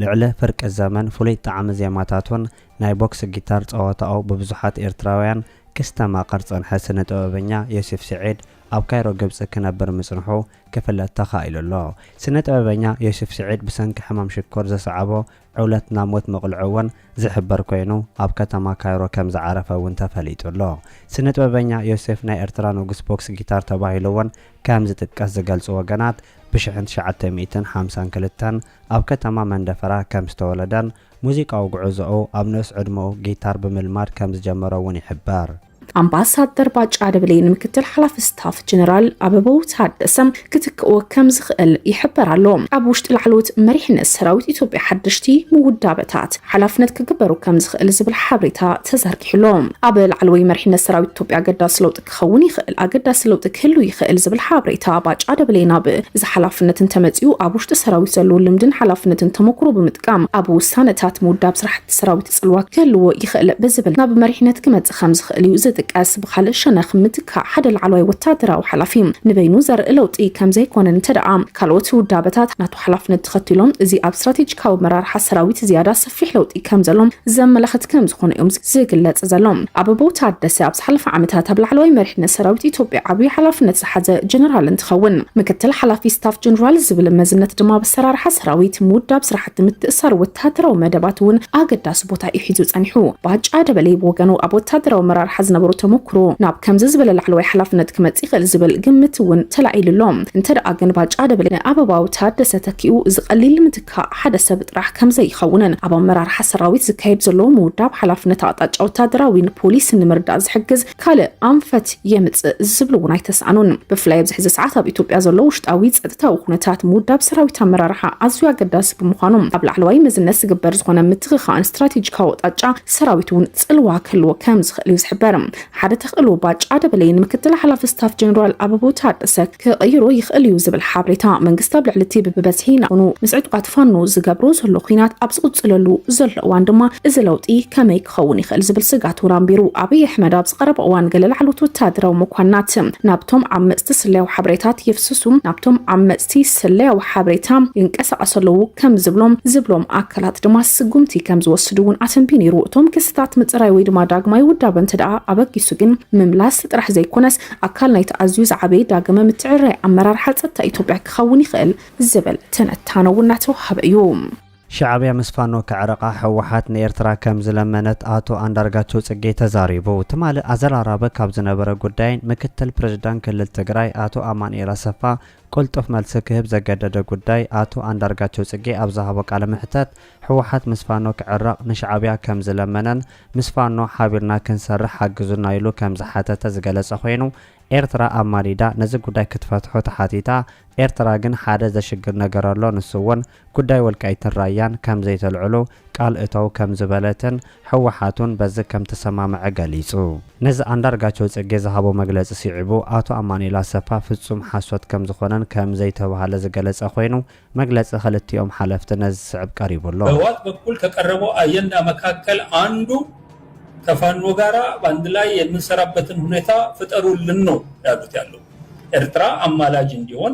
ልዕሊ ፍርቂ ዘመን ፍሉይ ጣዕሚ ዜማታቱን ናይ ቦክሲ ጊታር ጸወታኡ ብብዙሓት ኤርትራውያን ክስተማቐር ዝጸንሐ ስነ-ጥበበኛ ዮሴፍ ስዒድ፣ ኣብ ካይሮ ግብጺ ክነብር ምጽንሑ ክፍለጥ ተኻኢሉ ኣሎ። ስነ-ጥበበኛ ዮሴፍ ስዒድ ብሰንኪ ሕማም ሽኮር ዘስዓቦ ዕውለት ናብ ሞት ምቕልዑ'ውን ዝሕበር ኮይኑ፣ ኣብ ከተማ ካይሮ ከም ዝዓረፈ'ውን ተፈሊጡ ኣሎ። ስነ-ጥበበኛ ዮሴፍ ናይ ኤርትራ ንጉስ ቦክሲ ጊታር ተባሂሉ'ውን ከም ዝጥቀስ ዝገልጹ ወገናት፣ ብሽሕን ትሽዓተ ሚእትን ሓምሳን ክልተን ኣብ ከተማ መንደፈራ ከም ዝተወለደን፣ ሙዚቃዊ ጉዕዞኡ ኣብ ንኡስ ዕድመኡ ጊታር ብምልማድ ከም ዝጀመረ እውን ይሕበር። ኣምባሳደር ባጫ ደበሌ ንምክትል ሓላፊ ስታፍ ጀነራል ኣበበው ታደሰ ክትክኦ ከም ዝኽእል ይሕበር ኣሎ። ኣብ ውሽጢ ላዕለዎት መሪሕነት ሰራዊት ኢትዮጵያ ሓደሽቲ ምውዳበታት ሓላፍነት ክግበሩ ከም ዝኽእል ዝብል ሓበሬታ ተዘርጊሑ ኣሎ። ኣብ ላዕለዎይ መሪሕነት ሰራዊት ኢትዮጵያ ኣገዳሲ ለውጢ ክኸውን ይኽእል፣ ኣገዳሲ ለውጢ ክህሉ ይኽእል ዝብል ሓበሬታ ባጫ ደበሌ ናብ እዚ ሓላፍነት እንተመጺኡ ኣብ ውሽጢ ሰራዊት ዘለዎ ልምድን ሓላፍነትን ተሞኩሮ ብምጥቃም ኣብ ውሳነታት ምውዳብ ስራሕቲ ሰራዊት ጽልዋ ክህልዎ ይኽእል ብዝብል ናብ መሪሕነት ክመጽእ ከምዝኽእል እዩ ዝጥቀስ። ብኻልእ ሸነኽ ምትካእ ሓደ ላዕለዋይ ወታደራዊ ሓላፊ ንበይኑ ዘርኢ ለውጢ ከምዘይኮነን እንተደኣ ካልኦት ውዳበታት ናቱ ሓላፍነት ተኸቲሎም እዚ ኣብ ስትራቴጂካዊ ኣመራርሓ ሰራዊት ዝያዳ ሰፊሕ ለውጢ ከም ዘሎ ዘመላኽት ከም ዝኾነ እዮም ዝግለጽ ዘሎ። ኣበባው ታደሰ ኣብ ዝሓለፈ ዓመታት ኣብ ላዕለዋይ መሪሕነት ሰራዊት ኢትዮጵያ ዓብዩ ሓላፍነት ዝሓዘ ጀነራል እንትኸውን ምክትል ሓላፊ ስታፍ ጀነራል ዝብል መዝነት ድማ ኣብ ኣሰራርሓ ሰራዊት፣ ምውዳብ ስራሕቲ ምትእስሳር ወተሃደራዊ መደባት እውን ኣገዳሲ ቦታ እዩ ሒዙ ጸኒሑ። ባጫ ደበሌ ብወገኑ ኣብ ወተሃደራዊ ኣመራርሓ ዝነበሮ ተሞክሮ ናብ ከምዚ ዝበለ ላዕለዋይ ሓላፍነት ክመጽእ ይኽእል ዝብል ግምት እውን ተላዒሉ ኣሎ። እንተደኣ ግን ባጫ ደበሌ ንኣበባው ታደሰ ተኪኡ እዚ ቀሊል ካብ ሓደ ሰብ ጥራሕ ከምዘይኸውንን ኣብ ኣመራርሓ ሰራዊት ዝካየድ ዘሎ ምውዳብ ሓላፍነት ኣቕጣጫ ወታደራዊን ፖሊስን ንምርዳእ ዝሕግዝ ካልእ ኣንፈት የምፅእ ዝብሉ እውን ኣይተስኣኑን። ብፍላይ ኣብዚ ሕዚ ሰዓት ኣብ ኢትዮጵያ ዘሎ ውሽጣዊ ፀጥታዊ ኩነታት ምውዳብ ሰራዊት ኣመራርሓ ኣዝዩ ኣገዳሲ ብምዃኑ ኣብ ላዕለዋይ መዝነት ዝግበር ዝኾነ ምትኽኻእን ስትራቴጂካዊ ኣቕጣጫ ሰራዊት እውን ፅልዋ ክህልዎ ከምዝኽእል እዩ ዝሕበር። ሓደ ተኽእሎ ባጫ ደበሌ ንምክትል ሓላፊ ስታፍ ጀነራል ኣበባው ታደሰ ክቕይሮ ይኽእል እዩ ዝብል ሓበሬታ መንግስቲ ኣብ ልዕሊ እቲ ብብበዝሒ ናኹኑ ምስ ዕጡቓት ፋኖ ዝገብሮ ዘሎ ኲናት ኣብ ዝቕፅለሉ ዘሎ እዋን ድማ እዚ ለውጢ ከመይ ክኸውን ይኽእል ዝብል ስጋት እውን ኣንቢሩ። ኣብይ ኣሕመድ ኣብዚ ቀረባ እዋን ገለ ላዕለዎት ወታደራዊ መኳንናት ናብቶም ዓመፅቲ ስለያዊ ሓበሬታት የፍስሱ ናብቶም ዓመፅቲ ስለያዊ ሓበሬታ ይንቀሳቐሱ ኣለዉ ከም ዝብሎም ዝብሎም ኣካላት ድማ ስጉምቲ ከም ዝወስዱ እውን ኣተንብዩ ነይሩ። እቶም ክስታት ምፅራይ ወይ ድማ ዳግማይ ውዳበ እንተደኣ ኣበጊሱ ግን ምምላስ ጥራሕ ዘይኮነስ ኣካል ናይቲ ኣዝዩ ዝዓበየ ዳግመ ምትዕርራይ ኣመራርሓ ፀጥታ ኢትዮጵያ ክኸውን ይኽእል ዝብል ትንታነ እውን እናተውሃበ እዩ። ሻዕብያ ምስ ፋኖ ክዕረቃ ህወሓት ንኤርትራ ከም ዝለመነት ኣቶ ኣንዳርጋቸው ጽጌ ተዛሪቡ። ትማሊ ኣዘራራቢ ካብ ዝነበረ ጉዳይን ምክትል ፕረዚዳንት ክልል ትግራይ ኣቶ ኣማኑኤል ኣሰፋ ቅልጡፍ መልሲ ክህብ ዘገደደ ጉዳይ ኣቶ ኣንዳርጋቸው ጽጌ ኣብ ዝሃቦ ቃለ መሕተት ህወሓት ምስ ፋኖ ክዕረቕ ንሻዕብያ ከም ዝለመነን ምስ ፋኖ ሓቢርና ክንሰርሕ ሓግዙና ኢሉ ከም ዝሓተተ ዝገለጸ ኮይኑ ኤርትራ ኣማሊዳ ነዚ ጉዳይ ክትፈትሖ ተሓቲታ ኤርትራ ግን ሓደ ዘሽግር ነገር ኣሎ ንሱ እውን ጉዳይ ወልቃይትን ራያን ከም ዘይተልዕሉ ቃል እተው ከም ዝበለትን ህወሓት እውን በዚ ከም ተሰማምዐ ገሊፁ። ነዚ ኣንዳርጋቸው ፅጌ ዝሃቦ መግለፂ ስዒቡ ኣቶ ኣማኑኤል ኣሰፋ ፍፁም ሓሶት ከም ዝኾነን ከም ዘይተብሃለ ዝገለፀ ኮይኑ መግለፂ ክልቲኦም ሓለፍቲ ነዚ ዝስዕብ ቀሪቡ ኣሎ። በህዋት በኩል ከቀረበው ኣየንዳ መካከል ኣንዱ ከፋኖ ጋራ ባንድ ላይ የምንሰራበትን ሁኔታ ፍጠሩልን ነው ያሉት ያለው ኤርትራ ኣማላጅ እንዲሆን፣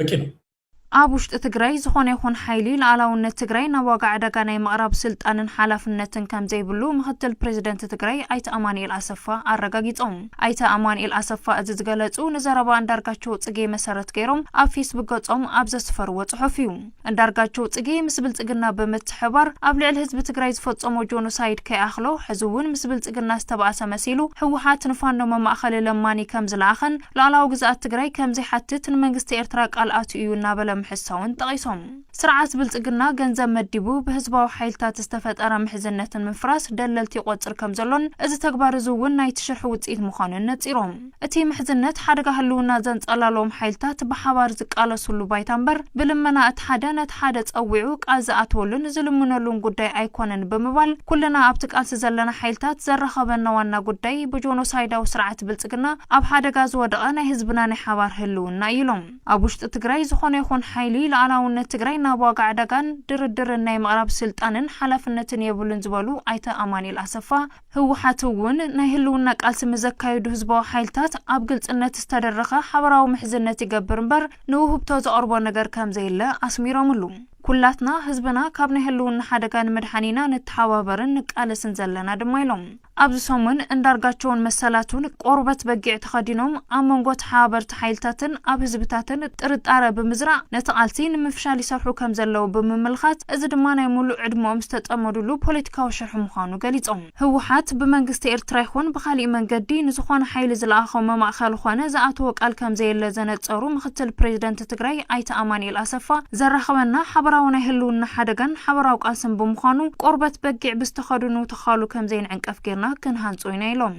በቂ ነው። ኣብ ውሽጢ ትግራይ ዝኾነ ይኹን ሓይሊ ልኣላውነት ትግራይ ናብ ዋጋ ዕዳጋ ናይ ምቕራብ ስልጣንን ሓላፍነትን ከምዘይብሉ ምክትል ፕሬዚደንት ትግራይ ኣይተ ኣማኒኤል ኣሰፋ ኣረጋጊፆም። ኣይተ ኣማኒኤል ኣሰፋ እዚ ዝገለፁ ንዘረባ ኣንዳርጋቸው ፅጌ መሰረት ገይሮም ኣብ ፌስቡክ ገፆም ኣብ ዘስፈርዎ ፅሑፍ እዩ። ኣንዳርጋቸው ፅጌ ምስ ብልፅግና ብምትሕብባር ኣብ ልዕሊ ህዝቢ ትግራይ ዝፈፀሞ ጆኖሳይድ ከይኣኽሎ ሕዚ እውን ምስ ብልፅግና ዝተባእሰ መሲሉ ህወሓት ንፋኖ መማእኸሊ ለማኒ ከምዝለኣኸን ሉኣላዊ ግዝኣት ትግራይ ከምዘይሓትት ንመንግስቲ ኤርትራ ቃል ኣትዩ እዩ እናበለ ምሕሳውን ጠቒሶም። ስርዓት ብልፅግና ገንዘብ መዲቡ ብህዝባዊ ሓይልታት ዝተፈጠረ ምሕዝነት ንምፍራስ ደለልቲ ይቖፅር ከምዘሎን እዚ ተግባር እዚ እውን ናይቲ ሽርሒ ውፅኢት ምዃኑን ነፂሮም። እቲ ምሕዝነት ሓደጋ ህልውና ዘንጸላልዎም ሓይልታት ብሓባር ዝቃለስሉ ባይታ እምበር ብልመና እቲ ሓደ ነቲ ሓደ ጸዊዑ ቃል ዝኣትወሉን ዝልምነሉን ጉዳይ ኣይኮነን ብምባል ኩልና ኣብቲ ቃልሲ ዘለና ሓይልታት ዘራኸበና ዋና ጉዳይ ብጆኖሳይዳዊ ስርዓት ብልጽግና ኣብ ሓደጋ ዝወደቐ ናይ ህዝብና ናይ ሓባር ህልውና እዩ ኢሎም። ኣብ ውሽጢ ትግራይ ዝኾነ ይኹን ሓይሊ ልኣላውነት ትግራይ ናብ ዋጋ ዕዳጋን ድርድርን ናይ ምቕራብ ስልጣንን ሓላፍነትን የብሉን ዝበሉ ኣይተ ኣማኒኤል ኣሰፋ፣ ህወሓት እውን ናይ ህልውና ቃልሲ ንዘካይዱ ህዝባዊ ሓይልታት ኣብ ግልፅነት ዝተደረኸ ሓበራዊ ምሕዝነት ይገብር እምበር ንውህብቶ ዘቕርቦ ነገር ከምዘየለ ኣስሚሮምሉ። ኩላትና ህዝብና ካብ ናይ ህልውና ሓደጋ ንምድሓን ኢና ንተሓባበርን ንቃለስን ዘለና ድማ ኢሎም። ኣብዚ ሰሙን እንዳርጋቸውን መሰላቱን ቆርበት በጊዕ ተኸዲኖም ኣብ መንጎ ተሓባበርቲ ጸጥታ ሓይልታትን ኣብ ህዝብታትን ጥርጣረ ብምዝራእ ነቲ ቃልሲ ንምፍሻል ይሰርሑ ከምዘለዉ ብምምልኻት እዚ ድማ ናይ ሙሉእ ዕድመኦም ዝተጸመዱሉ ፖለቲካዊ ሽርሒ ምዃኑ ገሊጾም። ህወሓት ብመንግስቲ ኤርትራ ይኹን ብኻሊእ መንገዲ ንዝኾነ ሓይሊ ዝለኣኾ መማእኸሊ ኾነ ዝኣተዎ ቃል ከምዘየለ ዘነጸሩ ምክትል ፕሬዚደንት ትግራይ ኣይተ ኣማኒኤል ኣሰፋ ዘራኽበና ሓበራዊ ናይ ህልውና ሓደጋን ሓበራዊ ቃልስን ብምዃኑ ቆርበት በጊዕ ብዝተኸድኑ ተዃሉ ከምዘይንዕንቀፍ ገይርና ክንሃንጾ ኢና ኢሎም።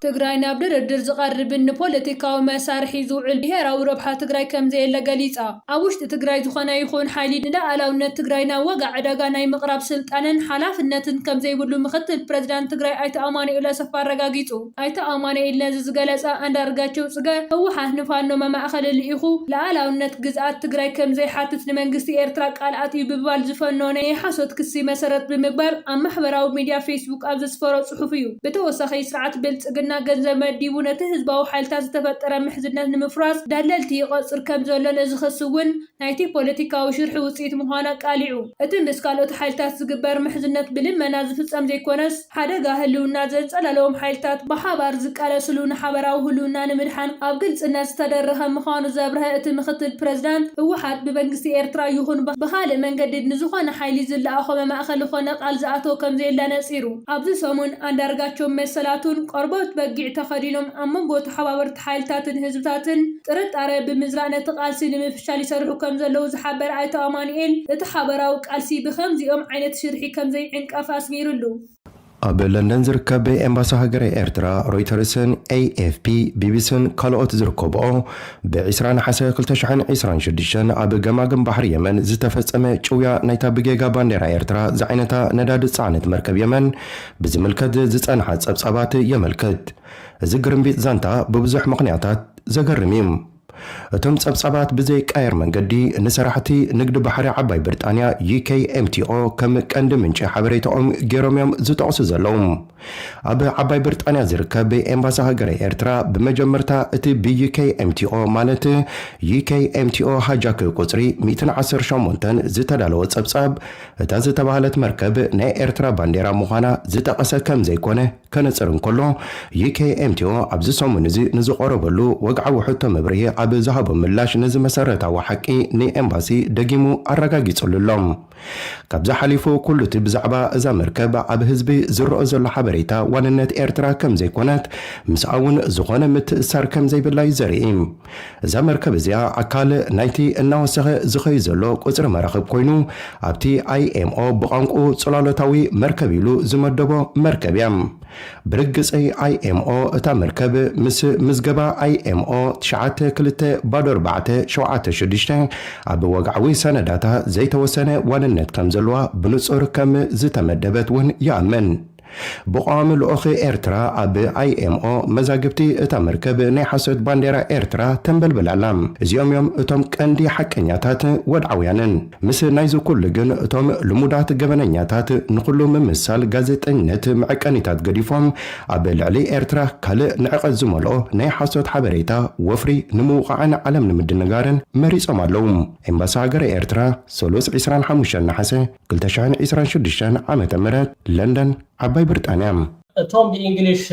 ትግራይ ናብ ድርድር ዝቐርብን ንፖለቲካዊ መሳርሒ ዝውዕል ብሄራዊ ረብሓ ትግራይ ከምዘየለ ገሊፃ። ኣብ ውሽጢ ትግራይ ዝኾነ ይኹን ሓይሊ ንለኣላውነት ትግራይ ናብ ዋጋ ዕዳጋ ናይ ምቕራብ ስልጣንን ሓላፍነትን ከምዘይብሉ ምክትል ፕረዚዳንት ትግራይ ኣይተ ኣማኑኤል ኣሰፋ ኣረጋጊፁ። ኣይተ ኣማኑኤል ነዚ ዝገለፀ ኣንዳርጋቸው ፅገ ህወሓት ንፋኖ መማእኸሊ ልኢኹ ለኣላውነት ግዝኣት ትግራይ ከምዘይሓትት ንመንግስቲ ኤርትራ ቃል ኣትዩ ብምባል ዝፈነወ ናይ ሓሶት ክሲ መሰረት ብምግባር ኣብ ማሕበራዊ ሚዲያ ፌስቡክ ኣብ ዘስፈሮ ፅሑፍ እዩ። ብተወሳኺ ስርዓት ብልፅግና ገንዘብ መዲቡ ነቲ ህዝባዊ ሓይልታት ዝተፈጠረ ምሕዝነት ንምፍራስ ደለልቲ ይቐፅር ከምዘሎን እዚ ክሲ እውን ናይቲ ፖለቲካዊ ሽርሒ ውፅኢት ምዃኑ ኣቃሊዑ። እቲ ምስ ካልኦት ሓይልታት ዝግበር ምሕዝነት ብልመና ዝፍፀም ዘይኮነስ ሓደጋ ህልውና ዘንፀላለዎም ሓይልታት ብሓባር ዝቃለስሉ ንሓበራዊ ህልውና ንምድሓን ኣብ ግልፅነት ዝተደረኸ ምዃኑ ዘብረሀ እቲ ምክትል ፕረዚዳንት ህወሓት ብመንግስቲ ኤርትራ ይኹን ብኻልእ መንገዲ ንዝኾነ ሓይሊ ዝለኣኾመ ማእኸል ኾነ ቃል ዝኣተወ ከምዘየለ ነፂሩ። ኣብዚ ሰሙን ኣንዳርጋቸውን መሰላቱን ቆርበት በጊዕ ተኸዲኖም ኣብ መንጎ ተሓባበርቲ ሓይልታትን ህዝብታትን ጥርጣረ ብምዝራእ ነቲ ቃልሲ ንምፍሻል ይሰርሑ ከምዘለዉ ዝሓበረ ኣይተ ኣማኑኤል እቲ ሓበራዊ ቃልሲ ብኸምዚኦም ዓይነት ሽርሒ ከምዘይዕንቀፍ ኣስሚርሉ። ኣብ ለንደን ዝርከብ ኤምባሲ ሃገረ ኤርትራ፣ ሮይተርስን፣ ኤኤፍፒ፣ ቢቢሲን ካልኦት ዝርከብኦ ብ ዕስራ ነሓሰ ክልተ ሽሕን ዕስራን ሽዱሽተን ኣብ ገማግም ባሕሪ የመን ዝተፈጸመ ጭውያ ናይታ ብጌጋ ባንዴራ ኤርትራ ዝዓይነታ ነዳዲ ዝጸዓነት መርከብ የመን ብዝምልከት ዝጸንሓ ጸብጻባት የመልክት። እዚ ግርምቢጥ ዛንታ ብብዙሕ ምኽንያታት ዘገርም እዩ። እቶም ጸብጻባት ብዘይቃየር መንገዲ ንሰራሕቲ ንግዲ ባሕሪ ዓባይ ብርጣንያ፣ UKMTO፣ ከም ቀንዲ ምንጪ ሓበሬታኦም ገይሮም እዮም ዝጠቕሱ ዘለዉ። ኣብ ዓባይ ብርጣንያ ዝርከብ ኤምባሲ ሃገረ ኤርትራ ብመጀመርታ እቲ ብዩኬይኤምቲኦ ማለት ዩኬይኤምቲኦ ሃጃክ ቁጽሪ ሚእትን ዓሰርተ ሸሞንተን ዝተዳለወ ጸብጻብ እታ ዝተባህለት መርከብ ናይ ኤርትራ ባንዴራ ምዃና ዝጠቐሰ ከም ዘይኮነ ከነጽር እንከሎ ዩኬይኤምቲኦ ኣብዚ ሰሙን እዚ ንዝቐረበሉ ወግዓዊ ሕቶ መብርሂ ኣብ ዝሃቦ ምላሽ ነዚ መሰረታዊ ሓቂ ንኤምባሲ ደጊሙ ኣረጋጊጽሉ ኣሎ። ካብዚ ሓሊፉ ኩሉቲ ብዛዕባ እዛ መርከብ ኣብ ህዝቢ ዝረኦ ዘሎ ሓበሬታ ዋንነት ኤርትራ ከምዘይኮነት ምስኣ ውን ዝኾነ ምትእስሳር ከምዘይብላ ዩ ዘርኢ። እዛ መርከብ እዚኣ ኣካል ናይቲ እናወሰኸ ዝኸይድ ዘሎ ቁጽሪ መራኽብ ኮይኑ ኣብቲ IMO ብቋንቁኡ ጽላሎታዊ መርከብ ኢሉ ዝመደቦ መርከብ እያ። ብርግጸይ IMO እታ መርከብ ምስ ምዝገባ IMO ትሽዓተ ክልተ ባዶ ኣርባዕተ ሸውዓተ ሽዱሽተ ኣብ ወግዓዊ ሰነዳታ ዘይተወሰነ ዋንነት ከም ዘሎዋ ብንጹር ከም ዝተመደበት ውን ይኣምን። ብቐዋሚ ልኡኽ ኤርትራ ኣብ IMO መዛግብቲ እታ መርከብ ናይ ሓሶት ባንዴራ ኤርትራ ተንበልብል ኣላ። እዚኦም እዮም እቶም ቀንዲ ሓቀኛታት ወድዓውያንን። ምስ ናይዚ ኩሉ ግን እቶም ልሙዳት ገበነኛታት ንኹሉ ምምሳል ጋዜጠኝነት መዐቀኒታት ገዲፎም ኣብ ልዕሊ ኤርትራ ካልእ ንዕቀት ዝመልኦ ናይ ሓሶት ሓበሬታ ወፍሪ ንምውቓዕን ዓለም ንምድንጋርን መሪጾም ኣለዉ። ኤምባሲ ሃገረ ኤርትራ ሰሉስ ዕስራን ሓሙሽተን ነሓሰ ክልተ ሽሕን ዕስራን ሽዱሽተን ዓመተ ምህረት ለንደን ዓባይ ብርጣንያ። እቶም ብኢንግሊሽ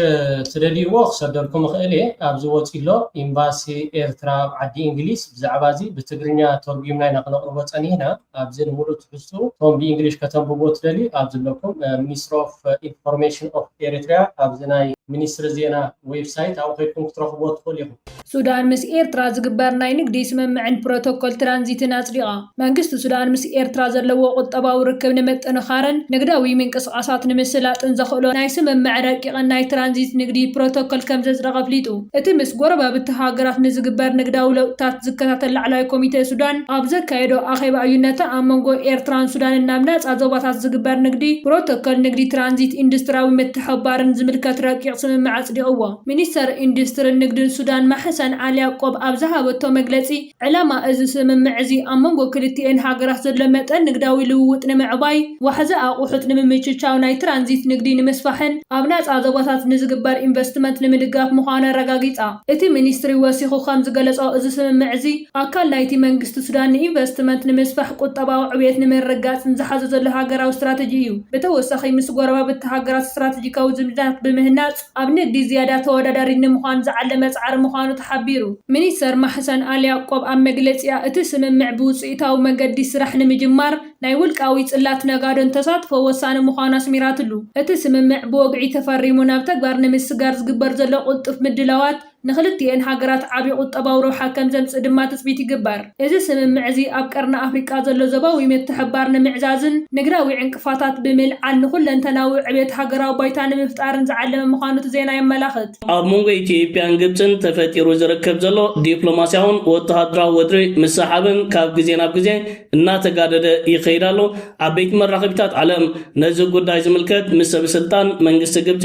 ትደልይዎ ክሰደልኩም እኽእል እየ ኣብዚ ወጺኡ ኣሎ ኢምባሲ ኤርትራ ኣብ ዓዲ ኢንግሊዝ ብዛዕባ እዚ ብትግርኛ ቶርጉምና ኢና ክነቕርቦ ጸኒህና ኣብዚ ንምሉእ ትሕዝትኡ እቶም ብኢንግሊሽ ከተንብብዎ ትደልዩ ኣብዚ ኣለኩም ሚኒስትሪ ኦፍ ኢንፎርሜሽን ኦፍ ኤሪትሪያ ኣብዚ ናይ ሚኒስትሪ ዜና ዌብሳይት ኣብኡ ከይድኩም ክትረኽብዎ ትኽእሉ ኢኹም። ሱዳን ምስ ኤርትራ ዝግበር ናይ ንግዲ ስምምዕን ፕሮቶኮል ትራንዚትን ኣጽዲቓ። መንግስቲ ሱዳን ምስ ኤርትራ ዘለዎ ቁጠባዊ ርክብ ንምጥንኻርን ንግዳዊ ምንቅስቓሳት ንምስላጥን ዘኽእሎ ናይ ስምምዕ ረቂቕን ናይ ትራንዚት ንግዲ ፕሮቶኮል ከምዘጽደቐ ኣፍሊጡ። እቲ ምስ ጎረባብቲ ሃገራት ንዝግበር ንግዳዊ ለውጥታት ዝከታተል ላዕለዋይ ኮሚተ ሱዳን ኣብ ዘካየዶ ኣኼባ እዩ ነቲ ኣብ መንጎ ኤርትራን ሱዳንን ናብ ናጻ ዞባታት ዝግበር ንግዲ፣ ፕሮቶኮል ንግዲ ትራንዚት፣ ኢንዱስትርያዊ ምትሕብባርን ዝምልከት ረቂቕ ስምምዕ ኣጽዲቕዎ። ሚኒስተር ኢንዱስትሪን ንግድን ሱዳን ማሕሰን ዓሊ ያቆብ ኣብ ዝሃበቶ መግለጺ፣ ዕላማ እዚ ስምምዕ እዚ ኣብ መንጎ ክልቲኤን ሃገራት ዘሎ መጠን ንግዳዊ ልውውጥ ንምዕባይ፣ ዋሕዚ ኣቑሑት ንምምችቻው፣ ናይ ትራንዚት ንግዲ ንምስፋሕን ኣብ ናጻ ዞባታት ንዝግበር ኢንቨስትመንት ንምድጋፍ ምዃኑ ኣረጋጊጻ። እቲ ሚኒስትሪ ወሲኹ ከም ዝገለጾ፣ እዚ ስምምዕ እዚ ኣካል ናይቲ መንግስቲ ሱዳን ንኢንቨስትመንት ንምስፋሕ ቁጠባዊ ዕብየት ንምርግጋጽን ዝሓዞ ዘሎ ሃገራዊ ስትራተጂ እዩ። ብተወሳኺ ምስ ጎረባብቲ ሃገራት ስትራተጂካዊ ዝምድናታት ብምህናጽ፣ ኣብ ንግዲ ዝያዳ ተወዳዳሪ ንምዃን ዝዓለመ ፃዕሪ ምዃኑ ተሓቢሩ። ሚኒስትር ማሕሰን ኣልያቆብ ኣብ መግለፂኣ፣ እቲ ስምምዕ ብውፅኢታዊ መንገዲ ስራሕ ንምጅማር ናይ ውልቃዊ ፅላት ነጋዶን ተሳትፎ ወሳኒ ምዃኑ ኣስሚራትሉ። እቲ ስምምዕ ብወግዒ ተፈሪሙ ናብ ተግባር ንምስግጋር ዝግበር ዘሎ ቅልጡፍ ምድላዋት፣ ንኽልቲኤን ሃገራት ዓቢ ቁጠባዊ ረብሓ ከም ዘምጽእ ድማ ትጽቢት ይግበር። እዚ ስምምዕ እዚ ኣብ ቀርኒ ኣፍሪቃ ዘሎ ዞባዊ ምትሕብባር ንምዕዛዝን ንግዳዊ ዕንቅፋታት ብምልዓል ንኹለንተናዊ ዕብየት ሃገራዊ ባይታ ንምፍጣርን ዝዓለመ ምዃኑ እቲ ዜና የመላኽት። ኣብ መንጎ ኢትዮጵያን ግብጽን ተፈጢሩ ዝርከብ ዘሎ ዲፕሎማስያውን ወተሃደራዊ ወጥሪ ምስሕሓብን ካብ ግዜ ናብ ግዜ እናተጋደደ ይኸይድ ኣሎ። ዓበይቲ መራኸቢታት ዓለም ነዚ ጉዳይ ዝምልከት ምስ ሰበስልጣን መንግስቲ ግብጺ፣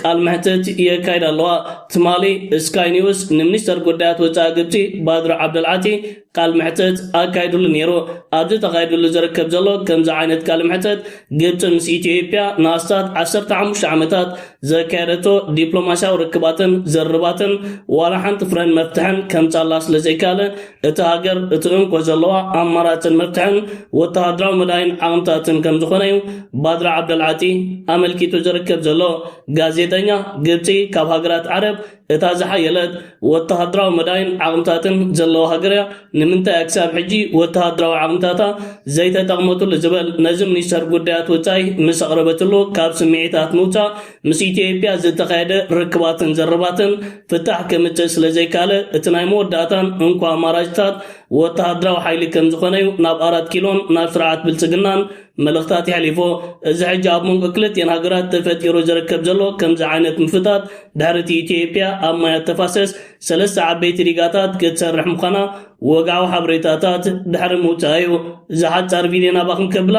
ቃል መሕትት የካይዳ ኣለዋ። ትማሊ ስካይ ኒውስ ንሚኒስተር ጉዳያት ወጻኢ ግብጺ ባድር ዓብደልዓቲ ቃል መሕትት ኣካይድሉ ነይሩ። ኣብዚ ተኻይድሉ ዝርከብ ዘሎ ከምዚ ዓይነት ቃል መሕትት ግብጺ ምስ ኢትዮይጵያ ንኣስታት ዓሰርተ ሓሙሽተ ዓመታት ዘካየደቶ ዲፕሎማስያዊ ርክባትን ዝርርባትን ዋላ ሓንቲ ፍረን መፍትሕን ከምጻላ ስለዘይካለ እታ ሃገር እቲ እንኮ ዘለዋ ኣማራጽን መፍትሕን ወተሃደራዊ መዳይን ዓቕምታትን ከም ዝኾነ እዩ ባድር ዓብደልዓጢ ኣመልኪቱ ዝርከብ ዘሎ። ጋዜጠኛ፣ ግብጺ ካብ ሃገራት ዓረብ እታ ዝሓየለት ወተሃደራዊ መዳይን ዓቕምታትን ዘለዋ ሃገር እያ፣ ንምንታይ እያ ክሳብ ሕጂ ወተሃደራዊ ዓቕምታታ ዘይተጠቕመትሉ ዝበል ነዚ ሚኒስተር ጉዳያት ወጻኢ ምስ ኣቕረበትሉ ካብ ስምዒታት ምውጻእ ምስ ኢትዮጵያ ዝተኻየደ ርክባትን ዘረባትን ፍታሕ ከምጽእ ስለ ዘይከኣለ፣ እቲ ናይ መወዳእታን እንኮ ኣማራጭታት ወተሃደራዊ ሓይሊ ከም ዝኾነ'ዩ ናብ ኣራት ኪሎን ናብ ስርዓት ብልጽግናን መልእኽታት የሕሊፎ። እዚ ሕጂ ኣብ መንጎ ክልቲኤን ሃገራት ተፈጢሩ ዝርከብ ዘሎ ከምዚ ዓይነት ምፍታት፣ ድሕሪ'ቲ ኢትዮጵያ ኣብ ማያት ተፋሰስ ሰለስተ ዓበይቲ ዲጋታት ክትሰርሕ ምዃና ወግዓዊ ሓበሬታታት ድሕሪ ምውጽኣ'ዩ። እዛ ሓጻር ቪድዮ ናባኹም ከብላ።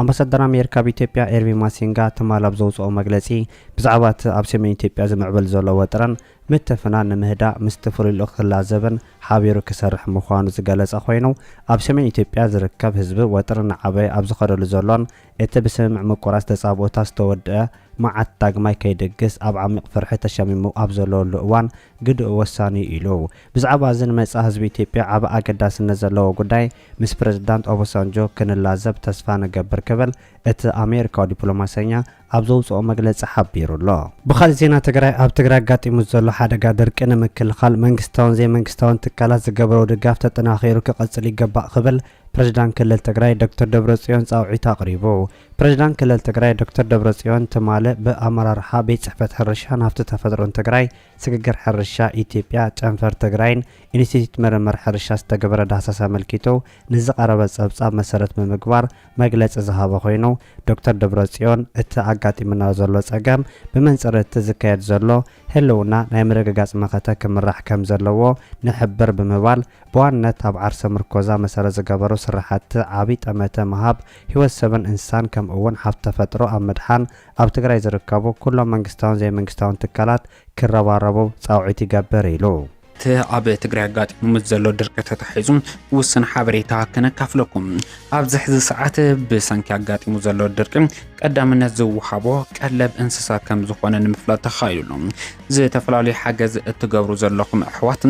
ኣምባሳደር ኣሜሪካ ኣብ ኢትዮጵያ ኤርቪን ማሲንጋ ትማል ኣብ ዘውጽኦ መግለጺ፣ ብዛዕባ እቲ ኣብ ሰሜን ኢትዮጵያ ዝምዕብል ዘሎ ወጥርን ምትፍናን ንምህዳእ ምስቲ ፍሉይ ልኡኽ ክላዘብን ሓቢሩ ክሰርሕን ምዃኑ ዝገለጸ ኮይኑ፣ ኣብ ሰሜን ኢትዮጵያ ዝርከብ ህዝቢ ወጥሪ እናዓበየ ኣብ ዝኸደሉ ዘሎን እቲ ብስምምዕ ምቁራጽ ተጻብኦታት ዝተወድኣ መዓት ዳግማይ ከይድግስ ኣብ ዓሚቕ ፍርሒ ተሸሚሙ ኣብ ዘለወሉ እዋን ግደኡ ወሳኒ'ዩ ኢሉ። ብዛዕባ እዚ ንመጻኢ ህዝቢ ኢትዮጵያ ዓቢ ኣገዳስነት ዘለዎ ጉዳይ ምስ ፕረዚዳንት ኦቦሳንጆ ክንላዘብ ተስፋ ንገብር ክብል እቲ ኣሜሪካዊ ዲፕሎማሰኛ ኣብ ዘውጽኦ መግለጺ ሓቢሩ ኣሎ። ብኻልእ ዜና ትግራይ፣ ኣብ ትግራይ ኣጋጢሙ ዘሎ ሓደጋ ድርቂ ንምክልኻል መንግስታውን ዘይመንግስታውን ትካላት ዝገብረኦ ድጋፍ ተጠናኺሩ ክቕፅል ይገባእ ክብል ፕሬዚዳንት ክልል ትግራይ ዶክተር ደብረፅዮን ፃውዒት ኣቕሪቡ። ፕሬዚዳንት ክልል ትግራይ ዶክተር ደብረፅዮን ትማሊ ብኣመራርሓ ቤት ፅሕፈት ሕርሻን ሃፍቲ ተፈጥሮን ትግራይ ስግግር ሕርሻ ኢትዮጵያ፣ ጨንፈር ትግራይን ኢንስቲትዩት ምርምር ሕርሻ ዝተገበረ ዳህሳስ ኣመልኪቱ ንዝቐረበ ፀብፃብ መሰረት ብምግባር መግለፂ ዝሃበ ኮይኑ፣ ዶክተር ደብረፅዮን እቲ ኣጋጢሙና ዘሎ ፀገም ብመንፅር እቲ ዝካየድ ዘሎ ህልውና ናይ ምርግጋፅ መኸተ ክምራሕ ከምዘለዎ ንሕብር ብምባል ብዋንነት ኣብ ዓርሰ ምርኮዛ መሰረት ዝገበሩ ስራሕቲ ዓብይ ጠመተ ምሃብ ህይወት ሰብን እንስሳን ከምኡ'ውን ሃፍቲ ተፈጥሮ ኣብ ምድሓን ኣብ ትግራይ ዝርከቡ ኩሎም መንግስታውን ዘይመንግስታውን ትካላት ክረባረቡ ፃውዒት ይገብር ኢሉ። እቲ ኣብ ትግራይ ኣጋጢሙ ምስ ዘሎ ድርቂ ተታሒዙ ውሱን ሓበሬታ ከነካፍለኩም። ኣብዚ ሕዚ ሰዓት ብሰንኪ ኣጋጢሙ ዘሎ ድርቂ ቀዳምነት ዝወሃቦ ቀለብ እንስሳ ከም ዝኾነ ንምፍላጥ ተኻኢሉ። ዝተፈላለዩ ሓገዝ እትገብሩ ዘለኹም ኣሕዋት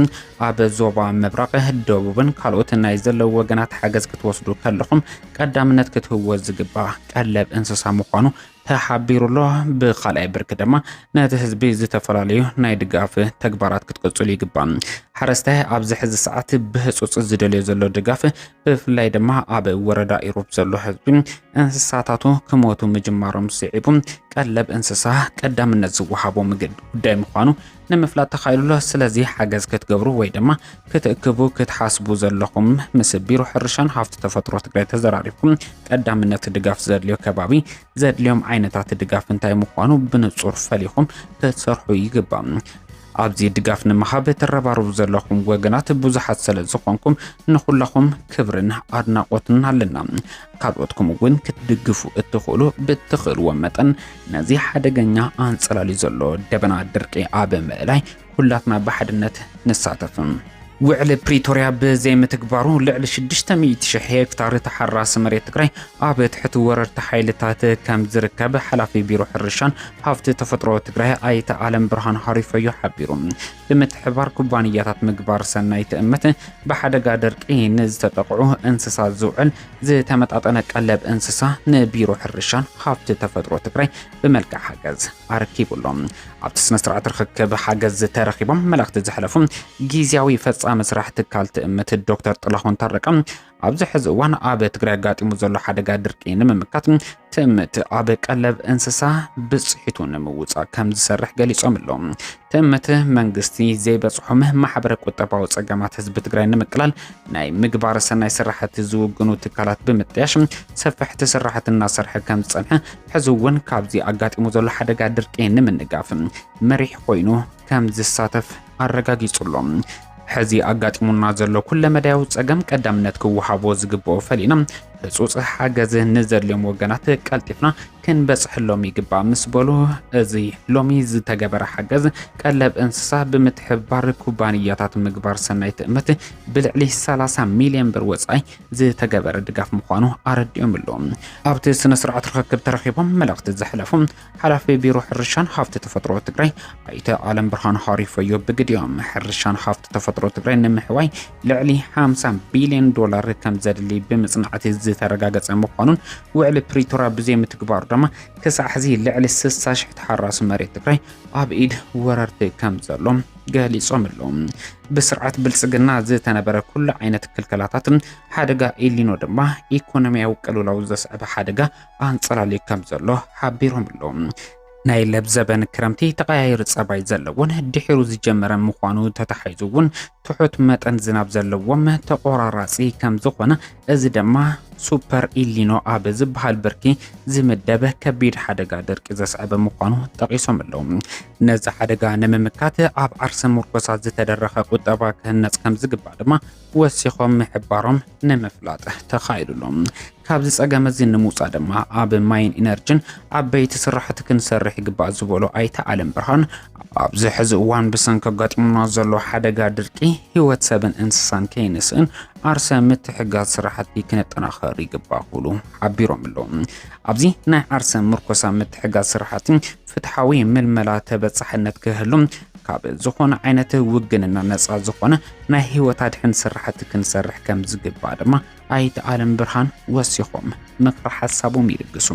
ኣብ ዞባ ምብራቕ፣ ደቡብን ካልኦት ናይ ዘለዉ ወገናት ሓገዝ ክትወስዱ ከለኹም ቀዳምነት ክትህቦ ዝግባእ ቀለብ እንስሳ ምዃኑ ተሓቢሩሎ ብካልኣይ ብርኪ ድማ ነቲ ህዝቢ ዝተፈላለዩ ናይ ድጋፍ ተግባራት ክትቅፅሉ ይግባእ። ሓረስታይ ኣብዚ ሕዚ ሰዓት ብህፁፅ ዝደልዮ ዘሎ ድጋፍ ብፍላይ ድማ ኣብ ወረዳ ኢሮብ ዘሎ ህዝቢ እንስሳታቱ ክሞቱ ምጅማሮም ስዒቡ ቀለብ እንስሳ ቀዳምነት ዝወሃቦ ምግብ ጉዳይ ምዃኑ ንምፍላጥ ተኻኢሉ ኣሎ። ስለዚ ሓገዝ ክትገብሩ ወይ ድማ ክትእክቡ ክትሓስቡ ዘለኹም ምስ ቢሮ ሕርሻን ሃፍቲ ተፈጥሮ ትግራይ ተዘራሪብኩም ቀዳምነት ድጋፍ ዘድልዮ ከባቢ ዘድልዮም ዓይነታት ድጋፍ እንታይ ምዃኑ ብንጹር ፈሊኹም ክትሰርሑ ይግባእ። ኣብዚ ድጋፍ ንምሃብ ትረባረቡ ዘለኹም ወገናት ብዙሓት ስለ ዝኾንኩም ንኹላኹም ክብርን ኣድናቖትን ኣለና። ካልኦትኩም እውን ክትድግፉ እትኽእሉ ብትኽእልዎ መጠን ነዚ ሓደገኛ ኣንጸላልዩ ዘሎ ደበና ድርቂ ኣብ ምእላይ ኩላትና ብሓድነት ንሳተፍም። ውዕሊ ፕሪቶርያ ብዘይምትግባሩ ልዕሊ 600 ሽሕ ሄክታር ተሓራሲ መሬት ትግራይ ኣብ ትሕቲ ወረርቲ ሓይልታት ከም ዝርከብ ሓላፊ ቢሮ ሕርሻን ሃፍቲ ተፈጥሮ ትግራይ ኣይተ ኣለም ብርሃን ሃሪፈዮ ሓቢሩ። ብምትሕብባር ኩባንያታት ምግባር ሰናይ ትእምት ብሓደጋ ድርቂ ንዝተጠቕዑ እንስሳት ዝውዕል ዝተመጣጠነ ቀለብ እንስሳ ንቢሮ ሕርሻን ሃፍቲ ተፈጥሮ ትግራይ ብመልክዕ ሓገዝ ኣረኪቡሎም ኣብቲ ስነ ስርዓት ርክክብ ሓገዝ ተረኪቦም መልእኽቲ ዘሕለፉ ግዜያዊ ፈፃሚ ስራሕ ትካል ትእምት ዶክተር ጥላሁን ታረቀ ኣብዚ ሕዚ እዋን ኣብ ትግራይ ኣጋጢሙ ዘሎ ሓደጋ ድርቂ ንምምካት ትእምት ኣብ ቀለብ እንስሳ ብፅሒቱ ንምውፃእ ከም ዝሰርሕ ገሊፆም ኣለዉ። ትእምት መንግስቲ ዘይበፅሖም ማሕበረ ቁጠባዊ ፀገማት ህዝቢ ትግራይ ንምቅላል ናይ ምግባረ ሰናይ ስራሕቲ ዝውግኑ ትካላት ብምጥያሽ ሰፈሕቲ ስራሕቲ እናሰርሐ ከም ዝፀንሐ ሕዚ እውን ካብዚ ኣጋጢሙ ዘሎ ሓደጋ ድርቂ ንምንጋፍ መሪሕ ኮይኑ ከም ዝሳተፍ ኣረጋጊጹ ኣሎ። ሕዚ ኣጋጢሙና ዘሎ ኩለመዳያዊ ጸገም ቀዳምነት ክወሃቦ ዝግብኦ ፈሊና ህጹጽ ሓገዝ ንዘድልዮም ወገናት ቀልጢፍና ክንበጽሐሎም ይግባእ ምስ በሉ እዚ ሎሚ ዝተገበረ ሓገዝ ቀለብ እንስሳ ብምትሕብባር ኩባንያታት ምግባር ሰናይ ትእምት ብልዕሊ 30 ሚሊዮን ብር ወጻኢ ዝተገበረ ድጋፍ ምዃኑ ኣረዲኦም ኣሎ። ኣብቲ ስነ ስርዓት ርኽክብ ተረኺቦም መልእኽቲ ዘሕለፉ ሓላፊ ቢሮ ሕርሻን ሃፍቲ ተፈጥሮ ትግራይ ኣይተ ኣለም ብርሃን ሃሪፈዮ ብግዲኦም ሕርሻን ሃፍቲ ተፈጥሮ ትግራይ ንምሕዋይ ልዕሊ 50 ቢልዮን ዶላር ከም ዘድሊ ብምፅናዕቲ ዝተረጋገፀ ምዃኑን ውዕሊ ፕሪቶራ ብዘይምትግባሩ ድማ ክሳዕ ሕዚ ልዕሊ 60 ሽሕ ተሓራሲ መሬት ትግራይ ኣብ ኢድ ወረርቲ ከም ዘሎ ገሊጾም ኣለዉ ብስርዓት ብልጽግና ዝተነበረ ኩሉ ዓይነት ክልከላታት ሓደጋ ኤሊኖ ድማ ኢኮኖሚያዊ ቅልውላው ዘስዕበ ሓደጋ ኣንጸላልዩ ከም ዘሎ ሓቢሮም ኣለዉ። ናይ ለብዘበን ክረምቲ ተቐያይሪ ጸባይ ዘለዎን ድሒሩ ዝጀመረ ምዃኑ ተታሒዙ እውን ትሑት መጠን ዝናብ ዘለዎም ተቆራራፂ ከም ዝኾነ እዚ ድማ ሱፐር ኢሊኖ ኣብ ዝበሃል ብርኪ ዝምደበ ከቢድ ሓደጋ ድርቂ ዘስዕበ ምዃኑ ጠቒሶም ኣለዉ። ነዚ ሓደጋ ንምምካት ኣብ ዓርሰ ምርኮሳ ዝተደረኸ ቁጠባ ክህነፅ ከም ዝግባእ ድማ ወሲኾም ምሕባሮም ንምፍላጥ ተኻኢሉ'ሎ። ካብዚ ጸገም እዚ ንምውጻእ ድማ ኣብ ማይን ኢነርጅን ዓበይቲ ስራሕቲ ክንሰርሕ ይግባእ ዝበሉ ኣይተ ኣለምብርሃን፣ ኣብዚ ሕዚ እዋን ብሰንኪ ኣጋጢሙና ዘሎ ሓደጋ ድርቂ ህይወት ሰብን እንስሳን ከይንስእን ዓርሰ ምትሕግጋዝ ስራሕቲ ክነጠናኸር ይግባእ ክብሉ ሓቢሮም'ሎ። ኣብዚ ናይ ዓርሰ ምርኮሳ ምትሕግጋዝ ስራሕቲ ፍትሓዊ ምልመላ ተበጻሕነት ክህሉ ካብ ዝኾነ ዓይነት ውግንና ነጻ ዝኾነ ናይ ህይወት ኣድሕን ስራሕቲ ክንሰርሕ ከም ዝግባእ ድማ ኣይተ ኣለም ብርሃን ወሲኾም ምክረ ሓሳቦም ይልግሱ።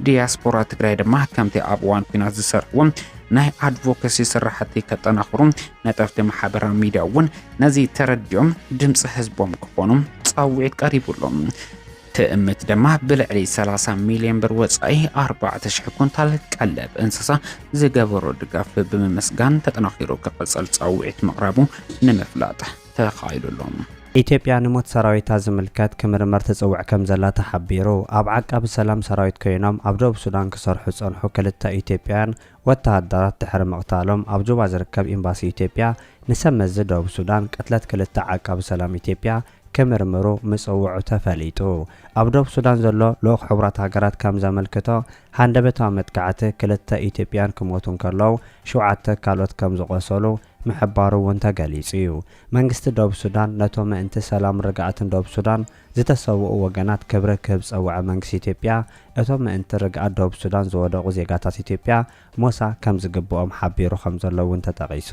ዲያስፖራ ትግራይ ድማ ከምቲ ኣብ እዋን ኩናት ዝሰርሕዎ ናይ ኣድቮኬሲ ስራሕቲ ከጠናኽሩ ነጠፍቲ ማሕበራዊ ሚዲያ እውን ነዚ ተረዲኦም ድምፂ ህዝቦም ክኾኑ ፃውዒት ቀሪቡሎም ትእምት ድማ ብልዕሊ 30 ሚልዮን ብር ወፃኢ 4,000 ኩንታል ቀለብ እንስሳ ዝገበሮ ድጋፍ ብምምስጋን ተጠናኺሩ ክቕፅል ፃውዒት ምቕራቡ ንምፍላጥ ተኻኢሉ ኣሎ። ኢትዮጵያ ንሞት ሰራዊታ ዝምልከት ክምርመር ትጽውዕ ከምዘላ ተሓቢሩ። ኣብ ዓቃቢ ሰላም ሰራዊት ኮይኖም ኣብ ደቡብ ሱዳን ክሰርሑ ዝጸንሑ ክልተ ኢትዮጵያውያን ወተሃደራት ድሕሪ ምቕታሎም ኣብ ጁባ ዝርከብ ኤምባሲ ኢትዮጵያ ንሰብ መዚ ደቡብ ሱዳን ቅትለት ክልተ ዓቃቢ ሰላም ኢትዮጵያ ክምርምሩ ምጽውዑ ተፈሊጡ። ኣብ ዶብ ሱዳን ዘሎ ልኡኽ ሕቡራት ሃገራት ከም ዘመልክቶ፣ ሃንደበታዊ መጥቃዕቲ ክልተ ኢትዮጵያውያን ክሞቱ እንከለዉ፣ ሸውዓተ ካልኦት ከም ዝቖሰሉ ምሕባሩ እውን ተገሊጹ'ዩ። መንግስቲ ዶብ ሱዳን ነቶም ምእንቲ ሰላምን ርግኣትን ዶብ ሱዳን ዝተሰውኡ ወገናት ክብሪ ክህብ ዝጸውዐ መንግስቲ ኢትዮጵያ፣ እቶም ምእንቲ ርግኣት ዶብ ሱዳን ዝወደቑ ዜጋታት ኢትዮጵያ፣ ሞሳ ከም ዝግብኦም ሓቢሩ ከም ዘሎ እውን ተጠቒሱ።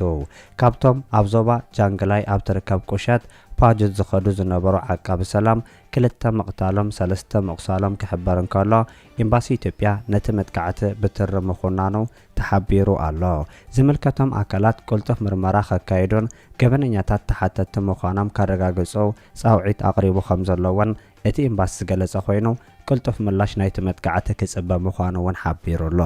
ካብቶም ኣብ ዞባ ጃንግላይ ኣብ ትርከብ ቁሸት ፓጁት ዝኸዱ ዝነበሩ ዓቃቢ ሰላም ክልተ ምቕታሎም ሰለስተ ምቑሳሎም ክሕበር እንከሎ ኤምባሲ ኢትዮጵያ ነቲ መጥቃዕቲ ብትሪ ምኹናኑ ተሓቢሩ ኣሎ። ዝምልከቶም ኣካላት ቅልጡፍ ምርመራ ከካይዱን ገበነኛታት ተሓተትቲ ምዃኖም ከረጋግጹ ጻውዒት ኣቕሪቡ ከም ዘሎ እውን እቲ ኤምባሲ ዝገለጸ ኮይኑ፣ ቅልጡፍ ምላሽ ናይቲ መጥቃዕቲ ክጽበ ምዃኑ'ውን ሓቢሩ ኣሎ።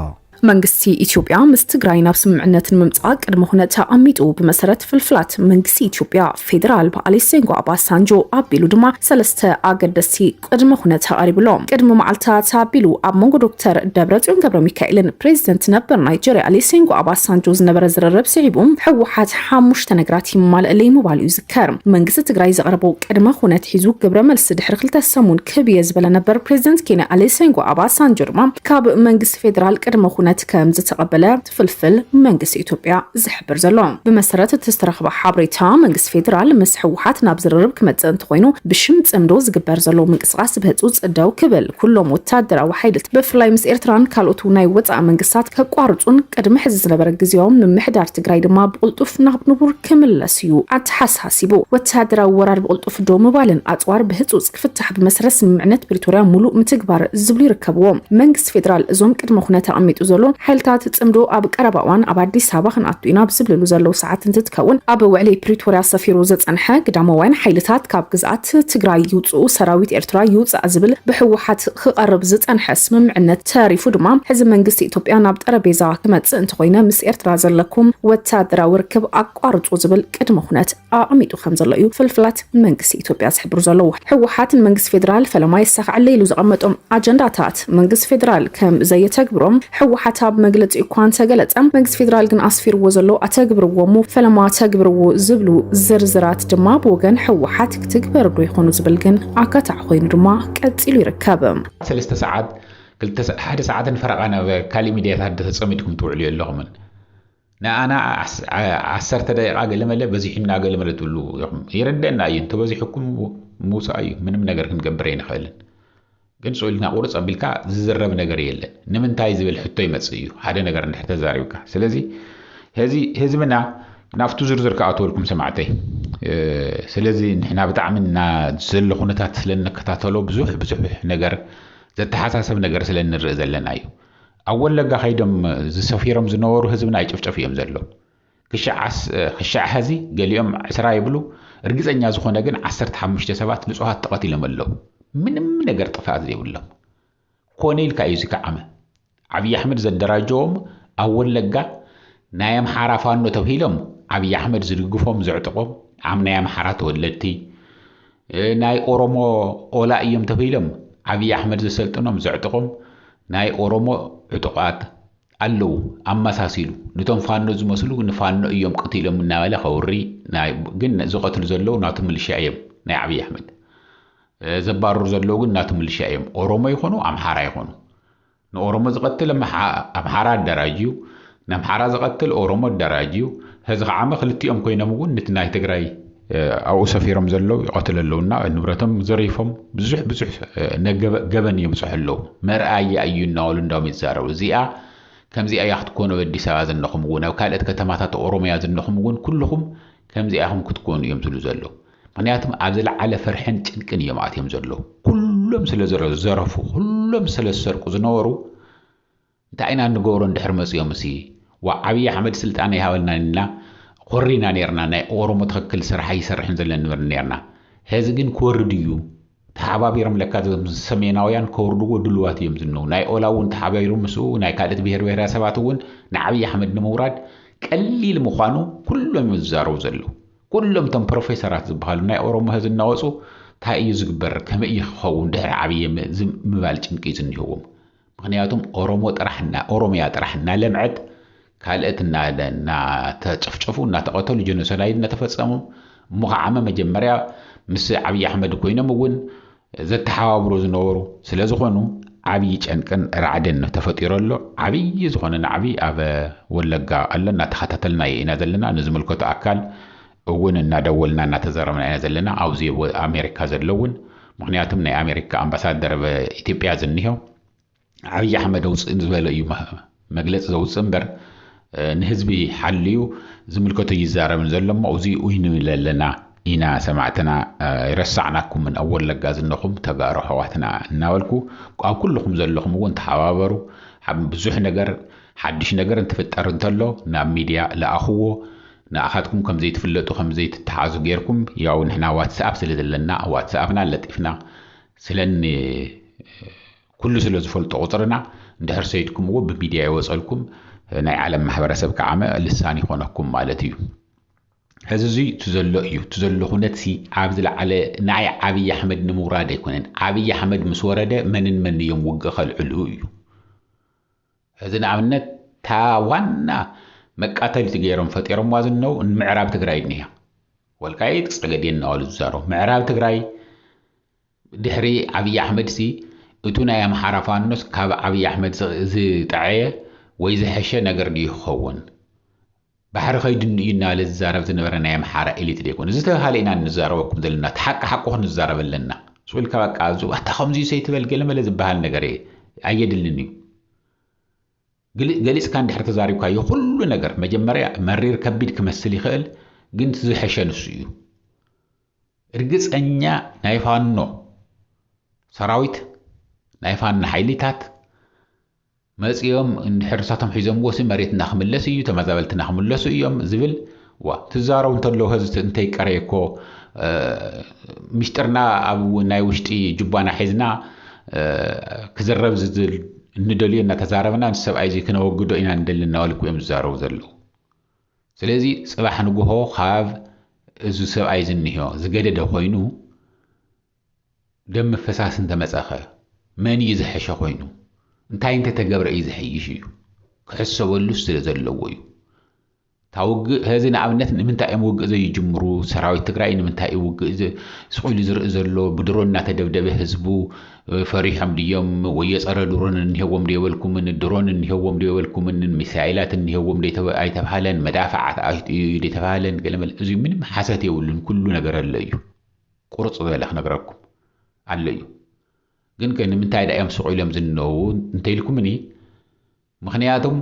መንግስቲ ኢትዮጵያ ምስ ትግራይ ናብ ስምምዕነት ንምምፃእ ቅድመ ኩነት ኣቐሚጡ። ብመሰረት ፍልፍላት መንግስቲ ኢትዮጵያ፣ ፌደራል ብኣሊሴንጎ ኣባሳንጆ ኣቢሉ ድማ ሰለስተ ኣገደስቲ ቅድመ ኩነት ኣቐሪቡ ኣሎ። ቅድሚ መዓልታት ኣቢሉ ኣብ መንጎ ዶክተር ደብረፅዮን ገብረሚካኤልን ፕሬዚደንት ነበር ናይጀርያ ኣሊሴንጎ ኣባሳንጆ ዝነበረ ዝርርብ ስዒቡ ህወሓት ሓሙሽተ ነገራት ይማለእለይ ምባሉ እዩ ከርም፣ መንግስቲ ትግራይ ዘቕረቦ ቅድመ ኩነት ሒዙ ግብረ መልሲ ድሕሪ ክልተ ሰሙን ክህብ እየ ዝበለ ነበር ፕሬዚደንት ኬንያ ኣሌሴንጎ ኣባ ሳንጆ ድማ ካብ መንግስቲ ፌዴራል ቅድመ ኩነት ከም ዝተቐበለ ፍልፍል መንግስቲ ኢትዮጵያ ዝሕብር ዘሎ። ብመሰረት እቲ ዝተረኽበ ሓበሬታ መንግስቲ ፌዴራል ምስ ህወሓት ናብ ዝርርብ ክመፅእ እንተኾይኑ ብሽም ፅምዶ ዝግበር ዘሎ ቃስ ብህጹጽ ደው ክብል፣ ኩሎም ወተሃደራዊ ሓይልት ብፍላይ ምስ ኤርትራን ካልኦት ናይ ወጻኢ መንግስታት ከቋርጹን ቅድሚ ሕዚ ዝነበረ ግዝያዊ ምምሕዳር ትግራይ ድማ ብቕልጡፍ ናብ ንቡር ክምለስ እዩ ኣተሓሳሲቡ። ወተሃደራዊ ወራር ብቕልጡፍ ደው ምባልን ኣጽዋር ብህጹጽ ክፍታሕ ብመሰረት ስምምዕነት ፕሪቶርያ ሙሉእ ምትግባር ዝብሉ ይርከብዎም። መንግስቲ ፌደራል እዞም ቅድመ ኩነት ኣቐሚጡ ዘሎ ሓይልታት ፅምዶ ኣብ ቀረባ እዋን ኣብ ኣዲስ ኣበባ ክንኣቱ ኢና ኣብ ዝብልሉ ዘለዉ ሰዓት እንትትከውን ኣብ ውዕሊ ፕሪቶርያ ሰፊሩ ዝፀንሐ ግዳማውያን ሓይልታት ካብ ግዝኣት ትግራይ ይውፅኡ ሰራዊት ኤርትራ ይውፃእ ዝብል ብሕወሓት ክቐርብ ዝፀንሐ ስምምዕነት ተሪፉ ድማ ሕዚ መንግስቲ ኢትዮጵያ ናብ ጠረጴዛ ክመፅእ እንተኾይነ ምስ ኤርትራ ዘለኩም ወታደራዊ ርክብ ኣቋርፁ ዝብል ቅድመ ኩነት ኣቐሚጡ ከምዘሎ እዩ ፍልፍላት መንግስቲ ኢትዮጵያ ዝሕብሩ ዘለዉ። ህወሓት ንመንግስቲ ፌዴራል ፈለማ የሳኽዐለይ ኢሉ ዘቐመጦም ኣጀንዳታት መንግስቲ ፌዴራል ከም ዘየተግብሮም ህወሓት ኣብ መግለፂኡ እኳ እንተገለፀ መንግስቲ ፌዴራል ግን ኣስፊርዎ ዘሎ ኣተግብርዎ እሞ ፈለማ ተግብርዎ ዝብሉ ዝርዝራት ድማ ብወገን ህወሓት ክትግበር ዶ ይኾኑ ዝብል ግን ኣካታዕ ኮይኑ ድማ ቀፂሉ ይርከብ። ሰለስተ ሰዓት ክልተ ሓደ ሰዓትን ፈረቓን ኣብ ካሊእ ሚድያታት ተፀሚድኩም ትውዕሉ የለኹምን። ንኣና ዓሰርተ ደቂቃ ገለመለ በዚሑና ገለመለ ትብሉ ኢኹም ይርደና እዩ እንተበዚሑኩም ምውፃእ እዩ ምንም ነገር ክንገብር ኣይንኽእልን ግን ስኢልና ቁርፅ ኣቢልካ ዝዝረብ ነገር የለን ንምንታይ ዝብል ሕቶ ይመፅእ እዩ ሓደ ነገር እንድሕር ተዛሪብካ ስለዚ ህዚ ህዝብና ናብቱ ዝርዝር ክኣትወልኩም ሰማዕተይ ስለዚ ንሕና ብጣዕሚ እና ዘሎ ኩነታት ስለ እንከታተሎ ብዙሕ ብዙሕ ነገር ዘተሓሳሰብ ነገር ስለ እንርኢ ዘለና እዩ ኣብ ወለጋ ከይዶም ዝሰፊሮም ዝነበሩ ህዝብና ይጭፍጨፉ እዮም ዘለዉ። ክሻዕ ሐዚ ገሊኦም ዕስራ ይብሉ እርግፀኛ ዝኾነ ግን ዓሰርተ ሓሙሽተ ሰባት ንፁሃት ተቐቲሎም ኣለዉ። ምንም ነገር ጥፍኣት ዘይብሎም። ኮነ ኢልካ እዩ እዚ ክዓመ። ዓብዪ ኣሕመድ ዘደራጀዎም ኣብ ወለጋ ናይ ኣምሓራ ፋኖ ተብሂሎም ዓብዪ ኣሕመድ ዝድግፎም ዘዕጥቖም ዓም ናይ ኣምሓራ ተወለድቲ ናይ ኦሮሞ ኦላ እዩም ተበይሎም ዓብይ ኣሕመድ ዘሰልጥኖም ዘዕጥቆም ናይ ኦሮሞ ዕጡቃት ኣለው ኣመሳሲሉ ንቶም ፋኖ ዝመስሉ ንፋኖ እዮም ቀቲሎም እናበለ ከውሪ ግን ዝቀትሉ ዘለው ናቱ ምልሻ እዮም ናይ ዓብይ ኣሕመድ ዘባርሩ ዘለው ግን ናቱ ምልሻ እዮም ኦሮሞ ይኾኑ ኣምሓራ ይኾኑ ንኦሮሞ ዝቀትል ኣምሓራ ኣዳራጅዩ ነምሓራ ዝቀትል ኦሮሞ ኣዳራጅዩ ሀዚ ካዓ እመ ክልቲኦም ኮይኖም እውን ንቲ ናይ ትግራይ ኣብኡ ሰፊሮም ዘለው ይቀትሉ ኣለው እና ንብረቶም ዘሪፎም ብዙሕ ብዙሕ ገበን የብፅሑ ኣለው መርኣያ እዩ እናበሉ እንዳውም ይዛረቡ እዚኣ ከምዚኣ እያ ክትኮኑ ኣብ ኣዲስ ኣበባ ዝነኹም እውን ኣብ ካልኦት ከተማታት ኦሮሚያ ዝነኹም እውን ኩልኹም ከምዚኣ ኢኹም ክትኮኑ እዮም ዝብሉ ዘለው ምክንያቱም ኣብ ዝለዓለ ፍርሕን ጭንቅን እዮም ኣትዮም ዘለዉ ኩሎም ስለ ዘረፉ ኩሎም ስለ ዝሰርቁ ዝነበሩ እንታይ ኢና ንገብሮ እንድሕር መፅኦም ሲ ዋ ዓብዪ ኣሕመድ ስልጣን ይሃበልና ኢልና ኮሪና ነርና ናይ ኦሮሞ ትኽክል ስራሕ ይሰርሕን ዘለን ንብል ነርና ሄዚ ግን ክወርድ እዩ ተሓባቢሮም ለካ እዞም ሰሜናውያን ከውርድዎ ድሉዋት እዮም ዝነው ናይ ኦላ እውን ተሓባቢሮም ምስኡ ናይ ካልእት ብሄር ብሄረሰባት እውን ንዓብዪ ኣሕመድ ንምውራድ ቀሊል ምዃኑ ኩሎም እዮም ዝዛረቡ ዘለዉ ኩሎም እቶም ፕሮፌሰራት ዝበሃሉ ናይ ኦሮሞ ህዝ እናወፁ እንታይ እዩ ዝግበር ከመይ እዩ ክኸውን ድሕሪ ዓብዪ ምባል ጭንቂ እዩ ዝኒህዎም ምኽንያቱም ኦሮሞ ጥራሕ እና ኦሮሚያ ጥራሕ እናለምዐት ካልእት እና እናተጨፍጨፉ እናተቐተሉ ጀኖሶዳይድ እናተፈፀሙ እሞ ከዓመ መጀመርያ ምስ ዓብዪ ኣሕመድ ኮይኖም እውን ዘተሓባብሩ ዝነበሩ ስለ ዝኾኑ ዓብዪ ጨንቅን ራዕድን ተፈጢሮ ኣሎ። ዓብዪ ዝኾነ ናዕቢ ኣብ ወለጋ ኣሎ እናተኸታተልናዮ ኢና ዘለና ንዝምልከቶ ኣካል እውን እናደወልና እናተዘረብና ኢና ዘለና ኣብዚ ኣሜሪካ ዘሎ እውን ምክንያቱም ናይ ኣሜሪካ ኣምባሳደር ኢትዮጵያ ዝኒሆ ዓብዪ ኣሕመድ ኣውፅእ ዝበለ እዩ መግለፂ ዘውፅእ እምበር ንህዝቢ ሓልዩ ዝምልከቶ ይዛረብን ዘሎ እሞ እዚ ኡይ ንብል ኣለና ኢና ሰማዕትና ይረሳዕናኩምን ኣብ ወለጋ ዝነኹም ተጋሩ ኣሕዋትና እናበልኩ ኣብ ኩልኹም ዘለኹም እውን ተሓባበሩ ብዙሕ ነገር ሓድሽ ነገር እንትፍጠር እንተሎ ናብ ሚድያ ለኣኽዎ ንኣኻትኩም ከም ዘይትፍለጡ ከም ዘይትተሓዙ ጌርኩም ያው ንሕና ዋትስኣፕ ስለ ዘለና ኣብ ዋትስኣፕና ለጢፍና ስለ ን ኩሉ ስለ ዝፈልጦ ቁጽርና እንድሕር ሰይትኩምዎ ብሚድያ ይወጸልኩም ናይ ዓለም ማሕበረሰብ ከዓመ ልሳን ይኾነኩም ማለት እዩ ሕዚ እዙይ እቲ ዘሎ እዩ እቲ ዘሎ ኩነት ሲ ኣብ ዝለዓለ ንኣይ ዓብዪ ኣሕመድ ንምውራድ ኣይኮነን ዓብዪ ኣሕመድ ምስ ወረደ መንን መን እዮም ውግእ ከልዕሉ እዩ ሕዚ ንኣብነት እታ ዋና መቃተልቲ ገይሮም ፈጢሮምዋ ዝነው ምዕራብ ትግራይ እኒኣ ወልቃይት ፀገዴን እናበሉ ዝዛረቡ ምዕራብ ትግራይ ድሕሪ ዓብዪ ኣሕመድ ሲ እቱ ናይ ኣምሓራ ፋኖስ ካብ ዓብዪ ኣሕመድ ዝጠዐየ ወይ ዝሐሸ ነገር ድዩ ክኸውን ባሕሪ ከይድን እዩ እናበለ ዝዛረብ ዝነበረ ናይ ኣምሓራ ኤሊት ዶ ኣይኮነን? ዝተብሃለ ኢና እንዛረበኩም ዘለና፣ እቲ ሓቂ ሓቁ ክንዛረብ ኣለና። ሱቅ ኢልካ በቃ ኣዙ ኣታ ከምዚስ ኣይትበል ገለ መለ ዝብሃል ነገር ኣየድልን እዩ። ግልጽ ገሊጽካ እንድሕር ተዛሪብካዮ ኩሉ ነገር መጀመርያ መሪር ከቢድ ክመስል ይኽእል ግን እቲ ዝሐሸ ንሱ እዩ። እርግጸኛ ናይ ፋኖ ሰራዊት ናይ ፋኖ ሓይሊታት መጺኦም እንድሕር ንሳቶም ሒዞምዎሲ መሬትና ክምለስ እዩ ተመዛበልትና ክምለሱ እዮም ዝብል ዋ ትዛረቡ እንተለዉ ህዝቲ እንተይቀረየ እኮ ምሽጥርና ኣብ ናይ ውሽጢ ጁባና ሒዝና ክዝረብ ዝዝል እንደልዮ እናተዛረብና እዚ ሰብኣይ እዚ ክነወግዶ ኢና ንደሊ እናበልኩ እዮም ዝዛረቡ ዘለዉ ስለዚ ጽባሕ ንግሆ ካብ እዚ ሰብኣይ ዝንዮ ዝገደደ ኮይኑ ደም ምፍሳስ እንተመጸኸ መን እዩ ዝሐሸ ኮይኑ እንታይ እንተተገብረ እዩ ዝሐይሽ እዩ ክሕሰበሉ ስለ ዘለዎ እዩ ታውግእ ሀዚ ንኣብነት ንምንታይ እዮም ውግእ ዘይጅምሩ ሰራዊት ትግራይ ንምንታይ እዩ ውግእ ስቑኢሉ ዝርኢ ዘሎ ብድሮን እናተደብደበ ህዝቡ ፈሪሖም ድዮም ወዮ ፀረ ድሮን እኒሄዎም ዶ የበልኩምን ድሮን እኒሄዎም ዶ የበልኩምን ሚሳይላት እኒሄዎም ዶ ኣይተባሃለን መዳፍዓት ኣዩ ዶ የተባሃለን ገለመለ እዚ ምንም ሓሰት የብሉን ኩሉ ነገር ኣሎ እዩ ቁርጽ ዝበለ ክነግረኩም ኣሎ እዩ ግን ከ ንምንታይ ድኣ እዮም ሱቅ ኢሎም ዝንነብቡ እንተኢልኩምኒ ምኽንያቱም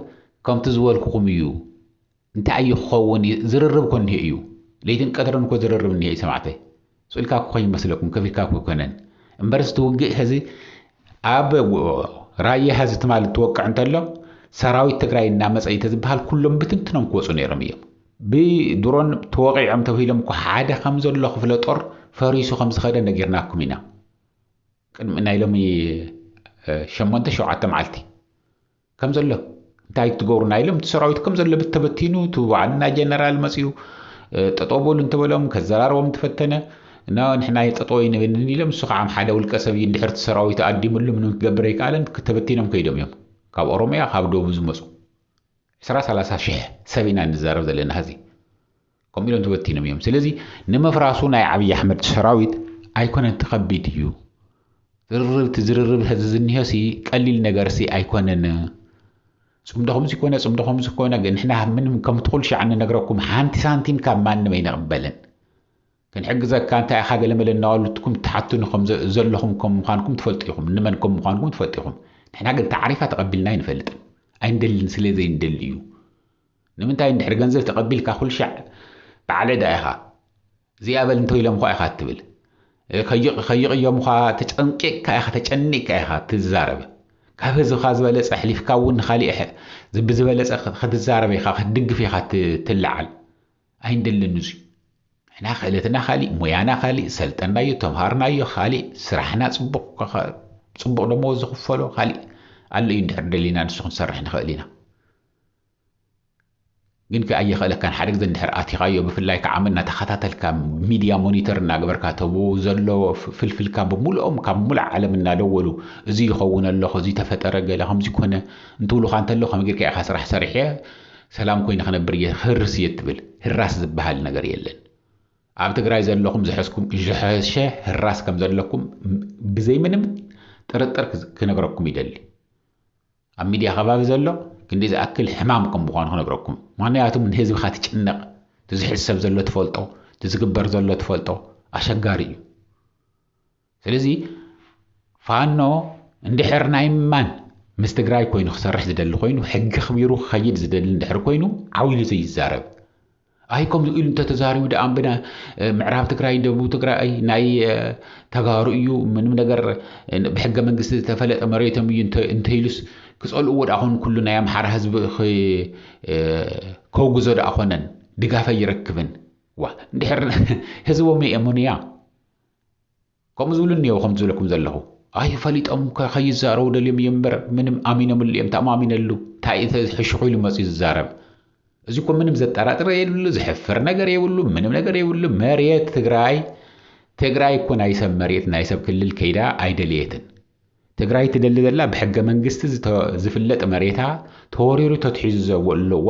ከምቲ ዝበልኩኹም እዩ እንታይ እዩ ክኸውን ዝርርብ እኮ እኒሄ እዩ ለይትን ቀትርን እኮ ዝርርብ እኒሄ እዩ ሰማዕተይ ስእልካ እኮ ከይመስለኩም ከፊልካ እኮ ኣይኮነን እምበርስ እቲ ውግእ ሕዚ ኣብ ራያ ሕዚ ትማሊ ትወቅዕ እንተሎ ሰራዊት ትግራይ እናመፀ እዩ ተዝበሃል ኩሎም ብትንትኖም ክወፁ ነይሮም እዮም ብድሮን ተወቒዖም ተብሂሎም እኮ ሓደ ከም ዘሎ ክፍለ ጦር ፈሪሱ ከም ዝኸደ ነጊርናኩም ኢና ቅድሚ ናይ ሎሚ ሸሞንተ ሸውዓተ መዓልቲ ከም ዘሎ እንታይ ትገብሩ ናይ ኢሎም እቲ ሰራዊት ከም ዘሎ ብተበቲኑ እቲ ዋዕና ጀነራል መፅኡ ጠጠው በሉ እንተበሎም ከዘራርቦም ተፈተነ እና ንሕና ጠጠው ይንብልን ኢሎም እሱ ከዓ ሓደ ውልቀ ሰብ እዩ እንድሕርቲ ሰራዊት ኣዲምሉ ምንም ክገብር ኣይከኣለን ተበቲኖም ከይዶም እዮም ካብ ኦሮሚያ ካብ ደቡብ ዝመፁ ዕስራ ሰላሳ ሽሕ ሰብ ኢና ንዛረብ ዘለና ሀዚ። ከምኡ ኢሎም ተበቲኖም እዮም ስለዚ ንምፍራሱ ናይ ዓብዪ ኣሕመድ ሰራዊት ኣይኮነን እቲ ከቢድ እዩ ዝርርብ እቲ ዝርርብ ሀዚ ዝኒሆሲ ቀሊል ነገርሲ ኣይኮነን ፅምዶ ከምዚ ኮነ ፅምዶ ከምዚ ኮነ ንሕና ምንም ከምቲ ኩሉ ሻዕ ንነግረኩም ሓንቲ ሳንቲም ካብ ማንም ኣይንቕበልን ክንሕግዘካ እንታይ ኢኻ ገለመለ እናበልትኩም ትሓቱኒ ከም ዘለኹም ከም ምዃንኩም ትፈልጡ ኢኹም ንመን ከም ምዃንኩም ትፈልጡ ኢኹም ንሕና ግን ታዕሪፋ ተቐቢልና ኣይንፈልጥን ኣይንደልን ስለ ዘይንደሊ እዩ ንምንታይ እንድሕር ገንዘብ ተቐቢልካ ኩልሻዕ በዓል ዕዳ ኢኻ እዚኣ በል እንተኢሎም እኳ ኢኻ እትብል ከይቕዮም እኳ ተጨንቂቕካ ኢኻ ተጨኒቕካ ኢኻ ትዛረብ ካብ ህዝብኻ ዝበለፀ ኣሕሊፍካ እውን ንካሊእ ብዝበለፀ ክትዛረብ ኢኻ ክትድግፍ ኢኻ ትለዓል ኣይንደልን እዙይ ንሕና ክእለትና ካሊእ ሞያና ካሊእ ሰልጠናዮ ተምሃርናዮ ካሊእ ስራሕና ፅቡቅ ፅቡቅ ደመወዝ ዝኽፈሎ ካሊእ ኣሎ እዩ እንድሕር ደሊና ንሱ ክንሰርሕ ንኽእል ኢና ግን ከ ኣየኽእለካን ሓደ ግዜ እንድሕር ኣቲኻዮ ብፍላይ ከዓ መና ተኸታተልካ ሚድያ ሞኒተር እናገበርካ ተብኡ ዘሎ ፍልፍልካ ብምልኦም ካብ ሙሉዕ ዓለም እናደወሉ እዚ ይኸውን ኣለኹ እዚ ተፈጠረ ገለ ከምዚ ኮነ እንትብሉካ እንተሎ ከመይ ጌርካ ኢኻ ስራሕ ሰሪሐ ሰላም ኮይነ ክነብር እየ ክህርስ እየ እትብል ህራስ ዝብሃል ነገር የለን ኣብ ትግራይ ዘለኹም ዝሐስኩም ዝሐሸ ህራስ ከም ዘለኩም ብዘይ ምንም ጥርጥር ክነግረኩም ይደሊ ኣብ ሚድያ ከባቢ ዘሎ ክንደይ ዝኣክል ሕማም ከም ምዃኑ ክነግረኩም ምክንያቱም ንህዝብኻ ትጭነቕ እቲ ዝሕሰብ ዘሎ ትፈልጦ እቲ ዝግበር ዘሎ ትፈልጦ ኣሸጋሪ እዩ ስለዚ ፋኖ እንድሕር ናይ ማን ምስ ትግራይ ኮይኑ ክሰርሕ ዝደሊ ኮይኑ ሕጊ ኣኽቢሩ ክኸይድ ዝደሊ እንድሕር ኮይኑ ዓው ኢሉ ዘይዛረብ ኣይ ከምዚ ኢሉ እንተተዛሪቡ ደኣ እምበዳ ምዕራብ ትግራይ ደቡብ ትግራይ ናይ ተጋሩ እዩ ምንም ነገር ብሕገ መንግስቲ ዝተፈለጠ መሬቶም እዩ እንተኢሉስ ክፀልእዎ ደኣ ኮን ኩሉ ናይ ኣምሓራ ህዝቢ ከውግዞ ደኣ ኮነን ድጋፍ ኣይረክብን ዋ እንድሕር ህዝቦም የእምኑያ ከምኡ ዝብሉ እኒአው ከም ዝብለኩም ዘለኹ ኣይ ፈሊጦም ከይዛረቡ ደልዮም እዮም እምበር ምንም ኣሚኖምሉ እዮም ተኣማሚነሉ እንታይ እቲ ሕሹኹ ኢሉ መፅኡ ዝዛረብ እዚ እኮ ምንም ዘጠራጥር የብሉ ዝሕፍር ነገር የብሉ ምንም ነገር የብሉ መሬት ትግራይ ትግራይ እኮ ናይ ሰብ መሬት ናይ ሰብ ክልል ከይዳ ኣይደልየትን ትግራይ ትደሊ ዘላ ብሕገ መንግስቲ ዝፍለጥ መሬታ ተወሪሩ ተትሒዙ ዘለዋ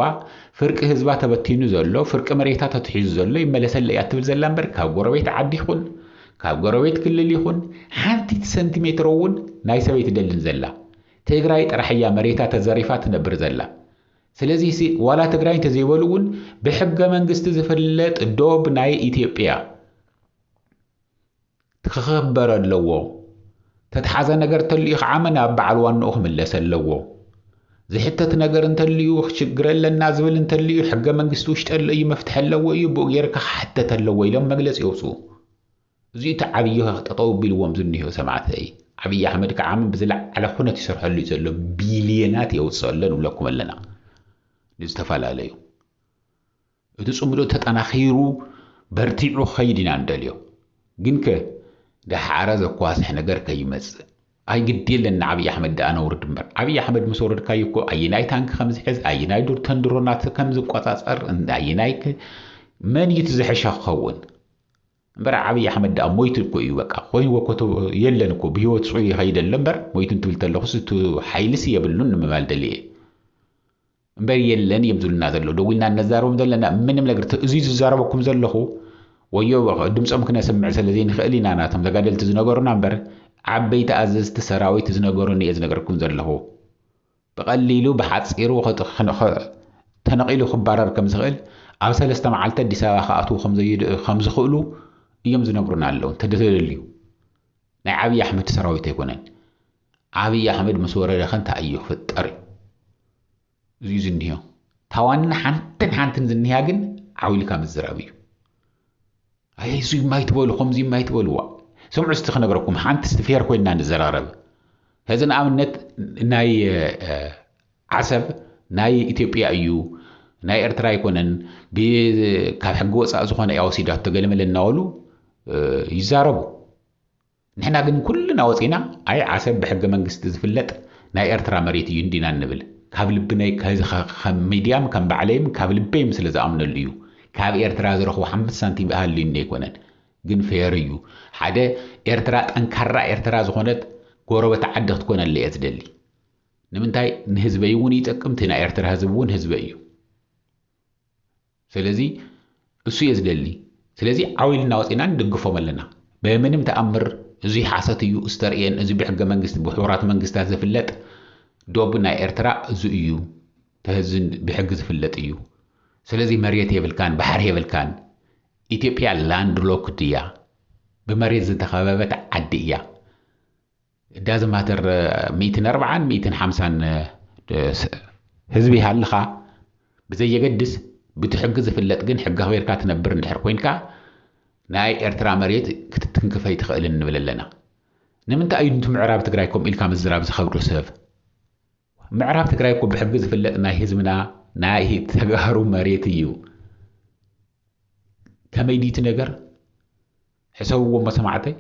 ፍርቂ ህዝባ ተበቲኑ ዘሎ ፍርቂ መሬታ ተትሒዙ ዘሎ ይመለሰለ እያ ትብል ዘላ እምበር ካብ ጎረቤት ዓዲ ይኹን ካብ ጎረቤት ክልል ይኹን ሓንቲት ሰንቲሜትሮ እውን ናይ ሰበይ ትደልን ዘላ ትግራይ ጥራሕ እያ መሬታ ተዘሪፋ ትነብር ዘላ ስለዚ ሲ ዋላ ትግራይ እንተዘይበሉ እውን ብሕገ መንግስቲ ዝፍለጥ ዶብ ናይ ኢትዮጵያ ክኸበር ኣለዎ። ተትሓዘ ነገር ተልዩ ከዓ መን ኣብ በዓል ዋንኡ ክምለስ ኣለዎ። ዝሕተት ነገር እንተልዩ ሽግር ኣለና ዝብል እንተልዩ ሕገ መንግስቲ ውሽጢ ኣሎ እዩ መፍትሒ ኣለዎ እዩ ብኡ ጌርካ ክሕተት ኣለዎ ኢሎም መግለፂ የውፁ። እዚ እቲ ዓብዪ ጠጠው ቢልዎም ዝኒሆ ሰማዕተይ። ዓብዪ ኣሕመድ ከዓ ብዝለዓለ ኩነት ይሰርሐሉ እዩ ዘሎ ቢልየናት የውፅእ ኣሎ ንብለኩም ኣለና ንዝተፈላለዩ እቲ ጽምዶ ተጠናኺሩ በርቲዑ ክኸይድ ኢና እንደልዮ። ግንከ ደሓረ ዘኳስሕ ነገር ከይመጽእ። ኣይ ግዲ የለን ንዓብዪ ኣሕመድ ደኣ ነውርድ እምበር። ዓብዪ ኣሕመድ ምስ ወረድካዮ እኮ ኣየናይ ታንኪ ከም ዝሕዝ፣ ኣየናይ ዱርተን ድሮናት ከም ዝቆጻጸር፣ ኣየናይ መን እዩ እቲ ዝሐሸ ክኸውን? እምበር ዓብዪ ኣሕመድ ደኣ ሞይቱ እኮ እዩ በቃ ኮይንዎ እኮ የለን እኮ ብህይወት ጽዑ ይኸይድ ኣሎ እምበር ሞይቱ እንትብል ተለኹስ እቲ ሓይልስ የብሉን ንምባል ደልየ እየ። እምበር የለን እዮም ዝብሉና ዘለዉ ደዊልና እነዛረቦም ዘለና ምንም ነገር እዚ ዝዛረበኩም ዘለኹ ወዮ ድምፆም ክነስምዕ ስለ ዘይንኽእል ኢና ናቶም ተጋደልቲ ዝነበሩና እምበር ዓበይቲ ኣዘዝቲ ሰራዊት ዝነበሩን እየ ዝነገርኩም ዘለኹ ብቐሊሉ ብሓፂሩ ተነቒሉ ክባረር ከም ዝኽእል ኣብ ሰለስተ መዓልቲ ኣዲስ ኣበባ ክኣትዉ ከም ዝኽእሉ እዮም ዝነግሩና ኣለዉ እንተደተደልዩ ናይ ዓብዪ ኣሕመድ ሰራዊት ኣይኮነን ዓብይ ኣሕመድ ምስ ወረደ ከ እንታይ እዩ ክፍጠር እዩ እዚዩ ዝኒሀ ታዋና ሓንትን ሓንትን ዝኒሃ ግን ዓው ኢልካ ምዝራብ እዩ ኣይ እዚ የማይትበሉ ከምዚ የማይትበልዋ ስምዑ ስቲ ክነግረኩም ሓንቲ ስቲ ፌር ኮይና ንዘራረብ ሕዚ ንኣብነት ናይ ዓሰብ ናይ ኢትዮጵያ እዩ ናይ ኤርትራ ኣይኮነን ካብ ሕጊ ወፃእ ዝኾነ እያ ወሲዳቶ ገለመለ እናበሉ ይዛረቡ ንሕና ግን ኩልና ወጺና ኣይ ዓሰብ ብሕገ መንግስቲ ዝፍለጥ ናይ ኤርትራ መሬት እዩ እንዲና እንብል ካብ ልብነይ ከም ሚድያም ከም ባዕለይም ካብ ልበይም ስለ ዝኣምነሉ እዩ ካብ ኤርትራ ዝረኽቦ ሓምስ ሳንቲም ሃልዩኒ ኣይኮነን ግን ፌር እዩ ሓደ ኤርትራ ጠንካራ ኤርትራ ዝኾነት ጎረበት ዓዲ ክትኮነለይ እየ ዝደሊ ንምንታይ ንህዝበይ እውን ይጠቅም እቲ ናይ ኤርትራ ህዝብ እውን ህዝበይ እዩ ስለዚ እሱ እየ ዝደሊ ስለዚ ዓው ኢልና ወጺና ንድግፎም ኣለና በምንም ተኣምር እዙይ ሓሶት እዩ እስተርእየን እዚ ብሕገ መንግስቲ ብሕቡራት መንግስታት ዝፍለጥ ዶብ ናይ ኤርትራ እዚ እዩ ተህዚ ብሕጊ ዝፍለጥ እዩ ስለዚ መሬት የብልካን ባሕሪ የብልካን ኢትዮጵያ ላንድ ሎክድ እያ ብመሬት ዝተኸበበት ዓዲ እያ ዳዝንት ማተር ሚእትን ኣርብዓን ሚእትን ሓምሳን ህዝቢ ሃልኻ ብዘየገድስ ብቲ ሕጊ ዝፍለጥ ግን ሕጊ ኣኽቢርካ ትነብር እንድሕር ኮይንካ ናይ ኤርትራ መሬት ክትትንክፍ ኣይትኽእልን ንብል ኣለና። ንምንታይ እዩ ንቲ ምዕራብ ትግራይ ከምኡ ኢልካ ምዝራብ ዝኸብዶ ሰብ? ምዕራብ ትግራይ እኮ ብሕጊ ዝፍለጥ ናይ ህዝብና ናይ ተጋሩ መሬት እዩ። ከመይ ድዩ እቲ ነገር ሕሰብዎ እሞ ሰማዕተይ።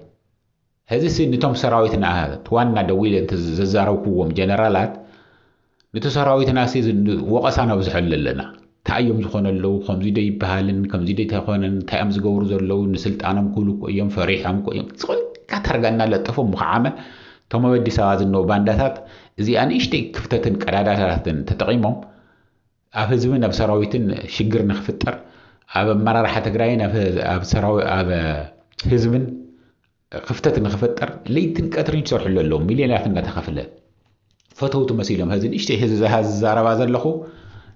ሕዚሲ ንቶም ሰራዊትና ዋና ደዊለ ዘዛረብኩዎም ጀነራላት ንቲ ሰራዊትና ወቐሳ ነብዝሐሉ ኣለና። ታይ እዮም ዝኾነ ኣለው ከምዙይ ዶ ይበሃልን ከምዙይ ዶ ኣይኮነን እንታይ እዮም ዝገብሩ ዘለው ንስልጣኖም ክብሉ እኮ እዮም ፈሪሖም እኮ እዮም ዝኾላ ታርጋ እናለጠፉ ምኽዓመ እቶም ኣብ ኣዲስ ኣበባ ዝነው ባንዳታት እዚኣ ንእሽተይ ክፍተትን ቀዳዳታትን ተጠቒሞም ኣብ ህዝብን ኣብ ሰራዊትን ሽግር ንክፍጠር ኣብ ኣመራርሓ ትግራይን ኣብ ህዝብን ክፍተት ንክፍጠር ለይትን ቀትርን ይሰርሕሉ ኣለዉ ሚልዮናት እናተኸፍለ ፈተውቲ መሲሎም ሀዚ ንእሽተይ ህዝቢ ዝዛረባ ዘለኹ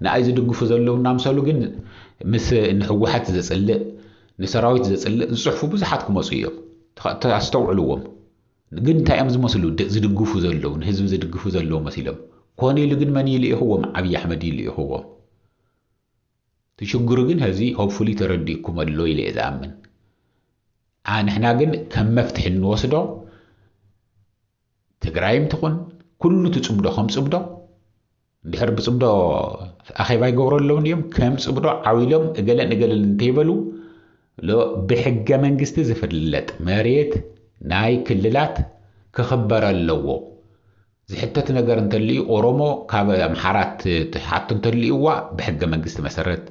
ንኣይ ዝድግፉ ዘለዉ እናምሰሉ ግን ምስ ንሕወሓት ዘፅልእ ንሰራዊት ዘፅልእ ዝፅሕፉ ብዙሓት ክመፁ እዮም ኣስተውዕልዎም ግን እንታይ እዮም ዝመስሉ ዝድግፉ ዘለዉ ንህዝቢ ዝድግፉ ዘለዉ መሲሎም ኮነ ኢሉ ግን መን እዩ ልኢኽዎም ዓብዪ ኣሕመድ እዩ ልኢኽዎም እቲ ሽግሩ ግን ሀዚ ሆፕፉሊ ተረዲእኩም ኣሎ ኢለ እየ ዝኣምን ዓ ንሕና ግን ከም መፍትሒ እንወስዶ ትግራይም ትኹን ኩሉ ትፅብዶ ከም ፅብዶ እንድሕር ብፅብዶ ኣኼባ ይገብሩ ኣለውን እዮም ከም ፅብዶ ዓው ኢሎም እገለን እገለን እንተይበሉ ሎ ብሕገ መንግስቲ ዝፍለጥ መሬት ናይ ክልላት ክኽበር ኣለዎ ዝሕተት ነገር እንተልዩ ኦሮሞ ካብ ኣምሓራ ትሓቶ እንተልዩዋ ብሕገ መንግስቲ መሰረት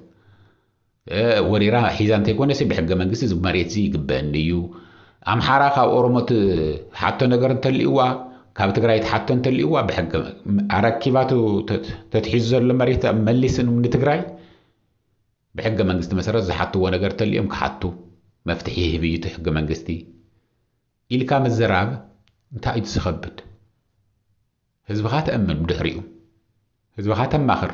ወሪራ ሒዛ እንተይኮነሲ ብሕገ መንግስቲ እዚ መሬትዚ ይግበእኒ እዩ ኣምሓራ ካብ ኦሮሞ ትሓቶ ነገር እንተልዩዋ ካብ ትግራይ ትሓቶ እንተልዩዋ ብሕገ ኣረኪባቱ ተትሒዙ ዘሎ መሬት መሊስ ንትግራይ ብሕገ መንግስቲ መሰረት ዝሓትዎ ነገር ተሊዮም ክሓቱ መፍትሒ ይህብ እዩ እቲ ሕገ መንግስቲ ኢልካ ምዝራብ እንታይ እዩ እቲ ዝኸብድ ህዝብኻ ተእምን ብድሕሪኡ ህዝብኻ ተማኽር